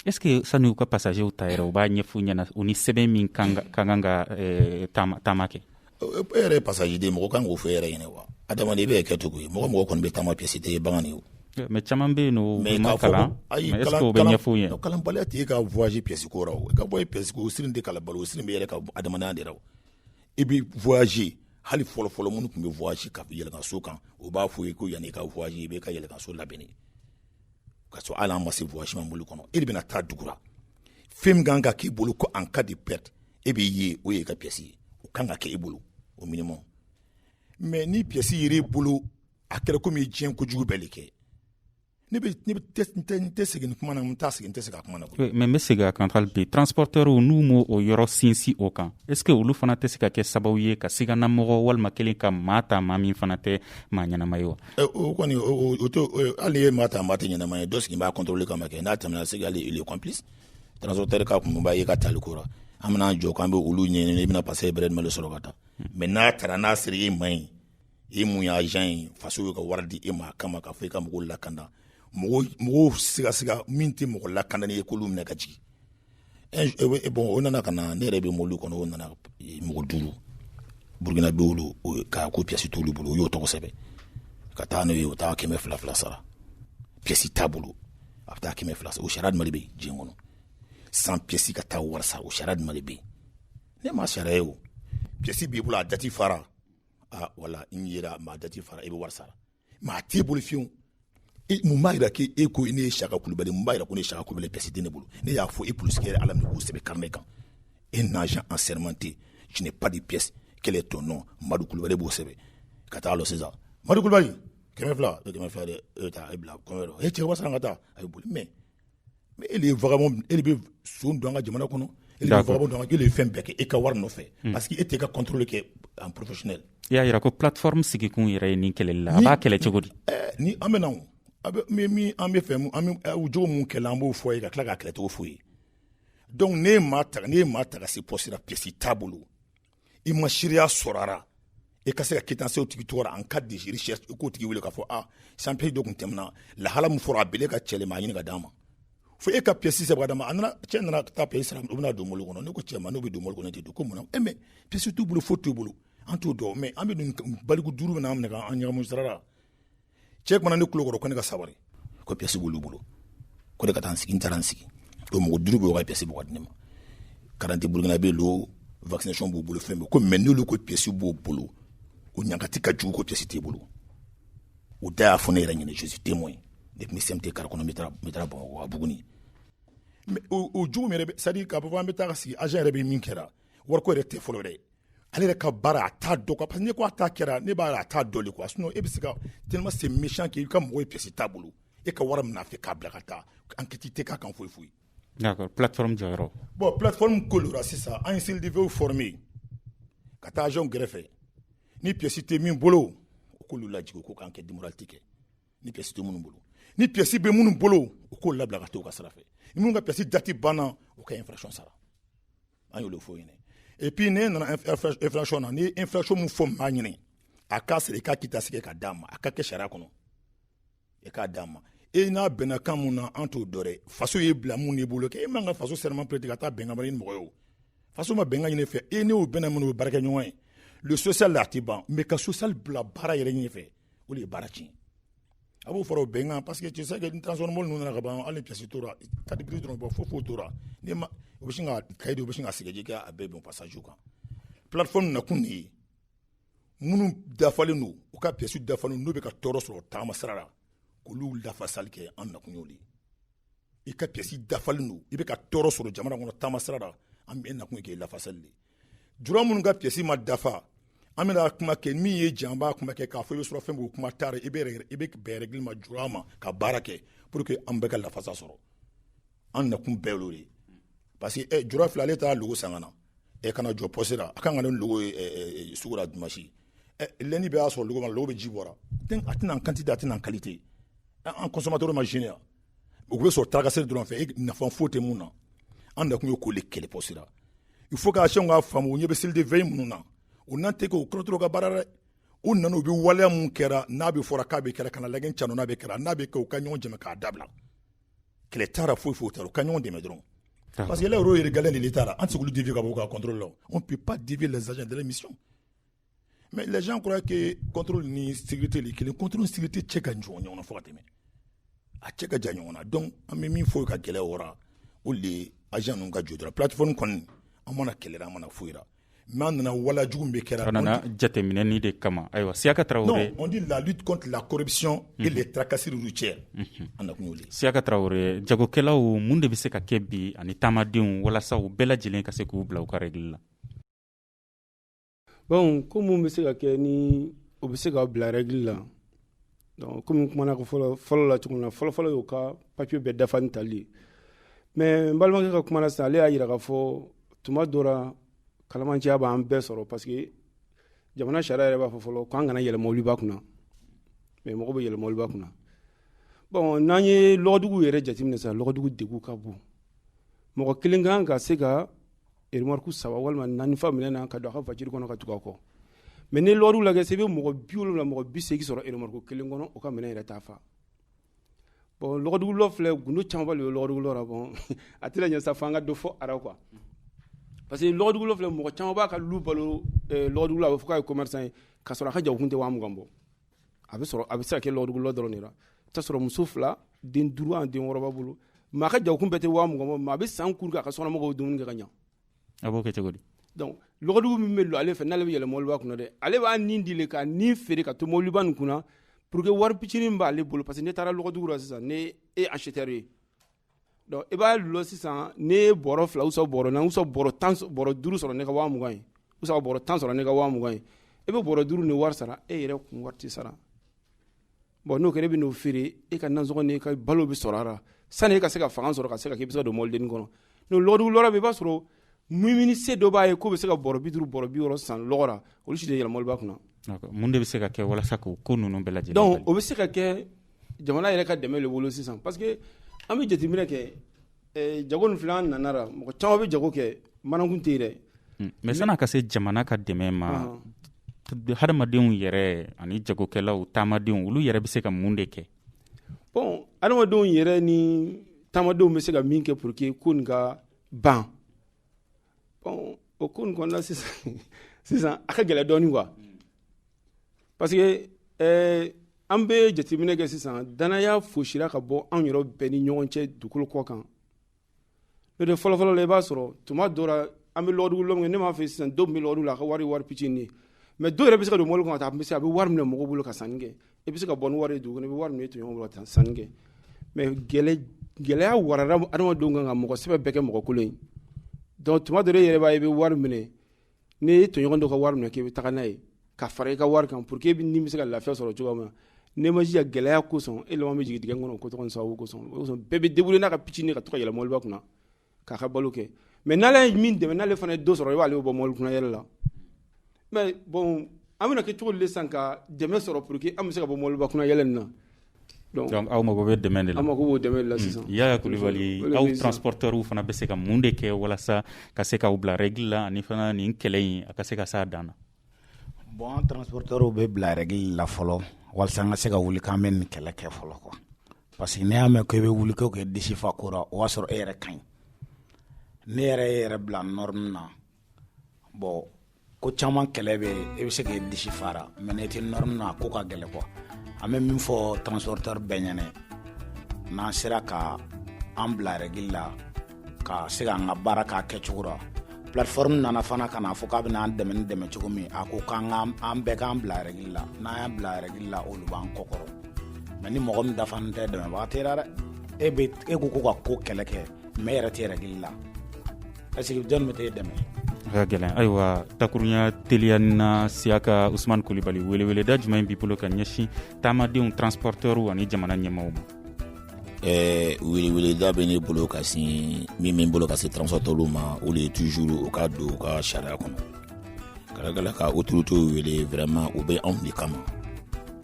est-ce
que sani u ka passagerw ta yɛrɛ u b'a ɲɛf'u ɲɛna u ni sɛbɛn min ka kan ka eh, taama kɛ e yɛrɛ ye passager
de mɔgɔ kan k'o fɔ e yɛrɛ ɲɛna wa adamaden i bɛ kɛ cogo ye mɔgɔ mɔgɔ kɔni bɛ taama pièce tɛ ye bagan ye mais caman bɛ yen
n'u ma kalan mais est-ce que o bɛ ɲɛf'u ɲɛna kalanbaliya t'i ka voyage
pièce ko rɔ ka bɔ pièce ko sirin tɛ kalan ba la o sirin b'i yɛrɛ ka adamadenya de rɔ i bɛ voyager hali fɔlɔ fɔlɔ minnu tun bɛ voyager ka yɛlɛnkan so kan u b'a fɔ i ye ko yanni i ka voyager i b'i ka yɛlɛnkan so labɛn de ka sɔrɔ hali an ma se voyage ma mobili kɔnɔ e de bɛna taa dugu la fɛn min kan ka k'i bolo ko en cas de perte e b'i ye o ye i ka pièce ye o kan ka kɛ i bolo au minimum mais ni pièce yera i bolo a kɛra komi i ye diɲɛ kojugu bɛɛ de kɛ Ne tɛ segin kuma na n t'a segin n tɛ segin a kuma na mais n bɛ segin a
kan hali bi transporteur n'u ma o yɔrɔ sinsin o kan est-ce que olu fana tɛ se ka kɛ sababu ye ka siganamɔgɔ walima kelen ka maa ta maa min fana tɛ maa ɲɛnama ye wa o
kɔni hali ye maa ta maa tɛ ɲɛnama ye dɔ sigi b'a contrôler kama ma kɛ n'a tɛmɛna c'est complice transporteur ka kun b'a ye ka taali ko la an bɛna jɔ k' an bɛ olu ɲɛ i bɛna passager mobili sɔrɔ ka taa mais n'a taara n'a sera i ma ɲi e min ye agent ye faso bɛ ka wari di e ma kama ka fɔ i ka mɔgɔw lakanda mɔgɔw sigasiga min tɛ mɔgɔ lakandani ye k'olu minɛ ka jigin e, bon o nana ka na ne yɛrɛ bɛ mobili kɔnɔ o nana e, mɔgɔ duuru burukinabɛ olu ka ko piyasi t'olu bolo o y'o tɔgɔ sɛbɛn ka taa n'o ye o taa kɛmɛ fila fila sara piyasi t'a bolo a bɛ taa kɛmɛ fila sara o sariya jumɛn de bɛ diɲɛ kɔnɔ sans piyasi ka taa wari sara o sariya jumɛn de bɛ yen ne ma sariya ye o piyasi b'i bolo a dati fara aa wala n yera maa dati fara i bɛ wari sara mais a t'i bolo fiyewu mun b'a jira k'e e ko ne ye saka kulubali mun b'a jira ko ne ye saka kulubali pièce tɛ ne bolo ne y'a fɔ e polisi kɛra ala minɛ k'o sɛbɛn carnet kan un agent assermenté je n'ai pas de pièce quel est ton nom madu kulubali b'o sɛbɛn ka taa lɔ sisan madu kulubali kɛmɛ fila kɛmɛ fila dɛ e ta e bila kɔnɔ yɔrɔ e cɛ wasa ka taa a bɛ boli mais Mais e de ye vagabond e de bɛ son don an ka jamana kɔnɔ, e de bɛ vagabond don an ka jamana kɔnɔ, e de bɛ fɛn bɛɛ kɛ e ka wari nɔfɛ parce que e tɛ e ka contrôle kɛ en professionnel i y'a jira ko
plateforme sigikun yɛrɛ ye nin kɛlɛli la, a b'a kɛlɛ cogo di? Ɛɛ ni an bɛ na
o, a bɛ min min an bɛ fɛ an bɛ o jogo minnu kɛlɛ an b'o fɔ a ye ka tila k'a kɛlɛ cogo f'u ye donc ne ye maa ta ne ye maa ta ka se poste la pièce t'a bolo i ma seereya sɔrɔra i ka se ka quittance o tigi tɔgɔ en cas de recherche i k'o tigi wele k'a fɔ a sans pièce dɔ tun tɛmɛna lahala min fɔra a bele ka cɛlɛ maa ɲini ka d'a ma fo e ka pièce sɛbɛn d'a ma a nana cɛ nana taa pièce sara u bɛna don mobili kɔnɔ ne ko cɛ ma n'u bɛ don mobili kɔnɔ tɛ don ko mun na mais pièce t'u bolo fo t'u bolo an t'o dɔn mais an bɛ baliku duuru min an minɛ k'an ɲagami sira la cɛ kumana ne kulo kɔrɔ ko ne ka sabari ko piyɛsi b'olu bolo ko ne ka taa n sigi n taara n sigi o mɔgɔ duuru bɛɛ ka piyɛsi bɔ ka di ne ma karidante burukinabɛ lo vaccination b'u bolo fɛn bɛɛ ko mais n'olu ko piyɛsi b'o bolo o ɲangati ka jugu ko piyɛsi t'i bolo u da y'a fɔ ne yɛrɛ ɲɛna je suis témoin depuis n bɛ CMT kari kɔnɔ n bɛ taara bamakɔ à buguni o jugu min yɛrɛ c'est à dire k'a fɔ an bɛ taa ka sigi agent yɛrɛ bɛ min kɛra wariko yɛrɛ tɛ fɔlɔ dɛ ale yɛrɛ ka baara a t'a dɔn quoi parce que n'i ko a ta kɛra ne b'a ye a t'a dɔn de quoi sinon e bɛ se ka tellement c'est méchant que i ka mɔgɔ ye pièce t'a bolo e ka wari minɛ a fɛ k'a bila ka taa enquête tɛ k'a kan foyi foyi. d'accord
plateforme jɔyɔrɔ. bon plateforme
ko la sisan an ye CLDV former ka taa agent gɛrɛfɛ ni pièce tɛ min bolo u k'olu lajigin u k'u ka enquête de moralité kɛ. ni pièce tɛ minnu bolo ni pièce bɛ minnu bolo u k'olu labila ka taa u ka sira fɛ minnu ka pièce dati banna u ka infraction sara an y'olu fɔ ɲɛna et puis ne nana infraction na ni infraction min fɔ maa ɲini a k'a sara i ka quittance kɛ ka d'a ma a ka kɛ sariya kɔnɔ i k'a d'a ma e n'a bɛnna kan mun na an t'o dɔn dɛ faso y'i bila mun n'i bolo k'e man ka faso serment prêter ka taa bɛnkan wɛrɛ ni mɔgɔ ye o faso ma bɛnkan ɲini fɛ e n'o bɛnna minnu bɛ baarakɛ ɲɔgɔn ye le social la a tɛ ban mais ka social bila baara yɛrɛ ɲɛfɛ o de ye baara tiɲɛ a b'o fara bɛnkan parce que tu sais que ni transport mɔbili ninnu nana ka ban hali pièce t'u ra carte grise dɔrɔn bɔ foyi foyi t'u ra ni ma u bɛ sin ka cahier di u bɛ sin ka sɛgɛji kɛ a bɛɛ bɛn passage kan plateforme nakun de ye minnu dafalen don u ka pièce dafalen n'u bɛ ka tɔɔrɔ sɔrɔ taama sira la k'olu lafasali kɛ an nakun y'o de i ka pièce dafalen don i bɛ ka tɔɔrɔ sɔrɔ jamana kɔnɔ taama sira la an bɛ nakun k'e lafasali de jura minnu ka pièce ma dafa an bɛna kuma kɛ min ye jan b'a kuma kɛ k'a fɔ i bɛ sɔrɔ fɛn b'o kuma taara i bɛ i bɛ bɛn règle ma jura ma ka baara kɛ pour que an bɛɛ ka lafasa sɔrɔ an nakun bɛɛ y'o de parce que eh, jura filɛ ale taa loko san ka na e eh, ka na jɔ poste la a kan ka ni loko eh, eh, sugu la dimanche eh, lundi bɛ y'a sɔrɔ loko mɔ loko bɛ ji bɔra a tɛna quantité a tɛna qualité an consommateur ma gagner u bɛ sɔrɔ tracasserie dɔrɔn fɛ e nafa foyi tɛ min na an nakun ye k'o de kɛlɛ sira il faut que agent k'a faamu ɲɛ bɛ seliden fɛn minnu na u nan tɛ k'o kɔrɔtɔ ka baara dɛ u nana u bɛ waleya min kɛra n'a bɛ fɔra k'a bɛ kɛra kana lagɛn ca n'a bɛ kɛra n'a bɛ kɛ u ka ɲɔgɔn jama k'a dabila kɛlɛ t'a ra foyi foyi t'a ra u ka ɲɔgɔn dɛmɛ dɔrɔn ah. parce que le rôle régalien de l'État ra an tɛ se k'u dévier ka bɔ u ka contrôle la on peut pas dévier les agents de la mission mɛ lajɛjan kura ke kɔntoro ni sigite kelen kɔntoro sigite cɛ ka jɔn ɲɔgɔn fo ka tɛmɛ a cɛ ka jan ɲɔgɔn na dɔn an bɛ min fɔ ka gɛlɛya wara o de az ninnu ka jodara pti kɔni an mana kɛlɛ an mana foyira n'a nana wala jugu bɛ kɛra nana jateminɛen
de kama ayiwa siya ka tarawele di lali
kɔnɔntilakɔrɔsiyɔn e de taararakansi cɛ an na kun siya ka tarawele
jagokɛlaw minnu de bɛ se ka kɛ bi ani taamadenw walasa bɛɛ lajɛlen ka se k'u bila u kari la
bon ko mun bɛ se ka kɛ ni o bɛ se ka bila règle la donc komi kumana ko fɔlɔ fɔlɔ la cogo min na fɔlɔ fɔlɔ y'u ka papier bɛɛ dafa ni tali ye mais n balimakɛ ka kuma na sisan ale y'a yira k'a fɔ tuma dɔ la kalamanciya b'an bɛɛ sɔrɔ parce que jamana sariya yɛrɛ b'a fɔ fɔlɔ k'an kana yɛlɛ mɔbiliba kunna mais mɔgɔ bɛ yɛlɛ mɔbiliba kunna bon n'an ye lɔgɔdugu yɛrɛ jateminɛ sisan lɔgɔdugu degun ka bon mɔgɔ kelen kan ka se ka Ri saba walima naani minɛ na ka don a faji kɔnɔ ka tugu kɔ mɛ ni lɔriw la se bɛ mɔgɔ bi la mɔgɔ bɛ segin sɔrɔ eri kelen kɔnɔ o ka minɛ yɛrɛ taa faa bɔn filɛ g caman de bɛ a tɛna ɲɛ sa fo ka don fɔ ara qu parce que filɛ mɔgɔ caman b'a ka balo a bɛ fɔ' ye koma ye ka sɔrɔ a ka ja kun tɛ' mugan bɔ a bɛ sɔrɔ a bɛ se ka kɛ lɔgɔdugu lɔ dɔrɔn de la, i bɛ t'a sɔrɔ muso fila den duuru ani den wɔɔrɔ b'a bolo mais a ka jagokun bɛɛ tɛ waa mugan bɔ mais a bɛ san kuru kɛ a ka sokɔnɔmɔgɔw dumuni kɛ ka ɲɛ a b'o kɛ cogo di
donc
lɔgɔdugu min bɛ don ale fɛ n'ale bɛ yɛlɛ mɔbiliba kunna dɛ ale b'a nin di le ka nin feere ka to mɔbiliba nin kunna pour que wari pitinin b'ale bolo parce que n'i taara lɔgɔdugu la sisan ni e ye acheteur ye Donc i b'a dulɔ sisan ni ye bɔrɔ fila ou soit bɔrɔ naani ou bɔrɔ duuru sɔrɔ ne ka waa mugan ye ou bɔrɔ tan sɔrɔ ne ka waa mugan ye i bɛ bɔrɔ duuru ni wari sara e yɛrɛ kun wari tɛ sara bon n'o kɛra e bɛ n'o feere e ka nasɔngɔ n'e ka balo bɛ sɔrɔ a la sani e ka se ka fanga sɔrɔ ka se ka k'i bɛ se ka don mɔbilinin kɔnɔ donc lɔgɔdugu lɔra i b'a sɔrɔ mumini se dɔ b'a ye k'o bɛ se ka bɔrɔ bi duuru bɔrɔ bi wɔɔrɔ san lɔgɔ la olu si tɛ yɛlɛ mɔbiliba kunna mun de bɛ se ka
kɛ walasa k'o ko ninnu bɛɛ lajɛlen donc o bɛ se ka kɛ
jamana yɛrɛ ka dɛmɛ de bolo sisan parce que an bɛ jateminɛ kɛ eh, jago nin filɛ an nana la mɔgɔ caman bɛ jago kɛ manakun tɛ yen dɛ hmm. mais san'a ka
se jamana ka dɛmɛ ma ah. hadamadenw yɛrɛ ani jagokɛlaw taamadenw olu yɛrɛ bɛ se ka mun de kɛ bon
hadamadenw yɛrɛ ni taamadenw bɛ se ka min kɛ pour que ko nin ka ban bon o ko nin kɔnɔna sisan sisan a ka gɛlɛ dɔɔni quoi parce que euh, an bɛ jateminɛ kɛ sisan danaya fosira ka bɔ anw yɛrɛ bɛɛ ni ɲɔgɔn cɛ dugukolo kɔ kan n'o tɛ fɔlɔfɔlɔ la i b'a sɔrɔ tuma dɔ la an bɛ lɔgɔdugu lɔ min kɛ ne m'a fɛ sisan dɔw bɛ lɔgɔdugu la a ka wari wari pitini ye mais dɔw yɛrɛ bɛ se ka don mɔbili kɔnɔ ka taa a bɛ se a bɛ wari minɛ mɔgɔw bolo ka sanni kɛ i bɛ se ka bɔ ni wari ye dugu kɔnɔ i bɛ wari minɛ i tɔɲɔgɔn bolo ka sanni kɛ mais gɛlɛya warara adamadenw kan ka mɔgɔ sɛbɛ bɛɛ kɛ mɔgɔkolon ye donc tuma dɔ la e yɛrɛ b'a ye i bɛ wari minɛ n'i ye tɔɲɔgɔn dɔ ka wari minɛ k'i bɛ taa n'a ye ka fara i ka wari kan pour que ni bɛ se ka lafiya sɔrɔ cogo min na n'e ma jija gɛlɛya kosɔn e laban bɛ jigin dingɛ kɔnɔ ko sababu kosɔn bɛɛ bɛ débrouiller n'a ka pitini ka to ka yɛlɛ mɔbiliba kunna k'a ka balo kɛ mais n'ale ye min dɛmɛ n'ale fana ye dɔ sɔrɔ i b'ale bɔ mɔbili kunna yɛlɛ la mais bon an bɛna kɛ cogo di sisan ka dɛmɛ sɔrɔ pour que an bɛ se ka bɔ mɔbiliba kunna yɛlɛ nin
na donc aw mako bɛ dɛmɛ de la an mako b'o dɛmɛ de la
sisan Yaya
Kulubali aw transportɛrw fana bɛ se ka mun de kɛ walasa ka se k'aw bila rɛgili la ani fana nin kɛlɛ in a ka se ka se a dan na bon an
transportɛrw bɛ bila rɛgili la fɔlɔ walasa an ka se ka wuli k'an bɛ nin kɛlɛ kɛ fɔlɔ quoi Parce que n'i y'a mɛn ko i bɛ wuli k'e k'e disi fa ko ra o y'a sɔrɔ e yɛrɛ ka ɲi ne yɛrɛ e yɛrɛ bila norme na bon ko caman kɛlɛ bɛ yen e bɛ se k'e disi fara mais n'e tɛ norme na a ko ka gɛlɛn quoi an bɛ min fɔ transportɛri bɛɛ ɲɛ na n'an sera ka an bila rɛgili la ka se k'an ka baara k'a kɛcogo la plateforme nana fana ka na fɔ k'a bɛna an dɛmɛ ni dɛmɛ cogo min a ko k'an ka an bɛɛ k'an bila rɛgili la n'an y'an bila rɛgili la olu b'an kɔkɔrɔ mais ni mɔgɔ min dafalen tɛ dɛmɛbaga tɛ la dɛ e bɛ e ko ko ka ko kɛlɛ kɛ mais e yɛrɛ tɛ rɛgili la est-ce que jɔni bɛ t'e dɛmɛ ka
gɛlɛn ayiwa takurunya teliya na Siaka Usman Kulibali weleweleda jumɛn b'i bolo ka ɲɛsin taamadenw transportɛrw ani jamana ɲɛmaw ma
ɛɛ weleweleda bɛ ne bolo ka sin min min bolo ka se transporteurs ma o de ye toujours u ka don u ka sariya kɔnɔ kalakala ka autorités wele vraiment u bɛ anw de kama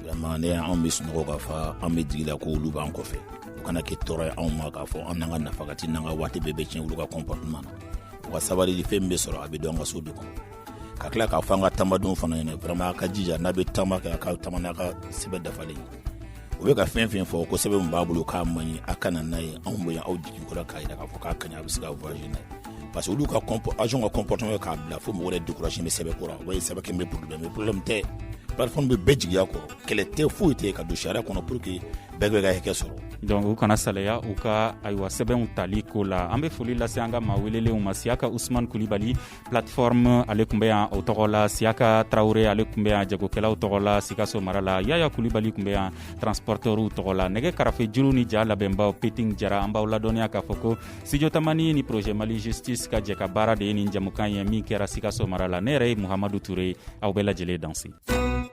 vraiment ni anw bɛ sunɔgɔ ka fa an bɛ jigi la ko olu b'an kɔfɛ u kana kɛ tɔɔrɔ ye anw ma k'a fɔ an n'an ka nafa ka tiɲɛ an ka waati bɛɛ bɛ tiɲɛ olu ka comportement na u ka sabali de fɛn bɛ sɔrɔ a bɛ don an ka so de kɔnɔ ka tila k'a fɔ an ka taamadenw fana ɲɛ na vraiment a ka jija n'a bɛ taama kɛ a ka taama n'a ka sɛbɛn dafalen ye u bɛ ka fɛn fɛn fɔ ko sɛbɛn min b'a bolo k'a man ɲi a ka na n'a ye anw bɛ yan aw jigi kɔrɔ k'a jira k'a fɔ k'a ka ɲi a bɛ se ka voyager n'a ye parce que olu ka agent ka comportement k'a bila fo mɔgɔ yɛrɛ découragé bɛ sɛbɛn ko rɔ o ye sɛbɛn kɛ bɛ problème problème tɛ plateforme bɛ bɛɛ jigiya kɔrɔ kɛlɛ tɛ foyi tɛ ka don sariya kɔnɔ pour que bɛɛ b'a ka hakɛ sɔrɔ donc u kana salaya
u ka ayiwa sɛbɛnw tali ko la an bɛ foli lase an ka maa welelenw ma siyaka usman kulibali plateforme ale tun bɛ yan o tɔgɔ la siyaka tarawele ale tun bɛ yan jagokɛlaw tɔgɔ la sikaso mara la yaya kulibali tun bɛ yan transportɛrw tɔgɔ la nɛgɛ karafe juru ni ja labɛnbaw peting jara an b'aw ladɔnniya k'a fɔ ko studio tamani ni projet mali justice ka jɛkabaara de ye nin jɛmukan ye min kɛra sikaso mara la ne yɛrɛ ye muhamadu ture aw bɛɛ lajɛlen dansɛ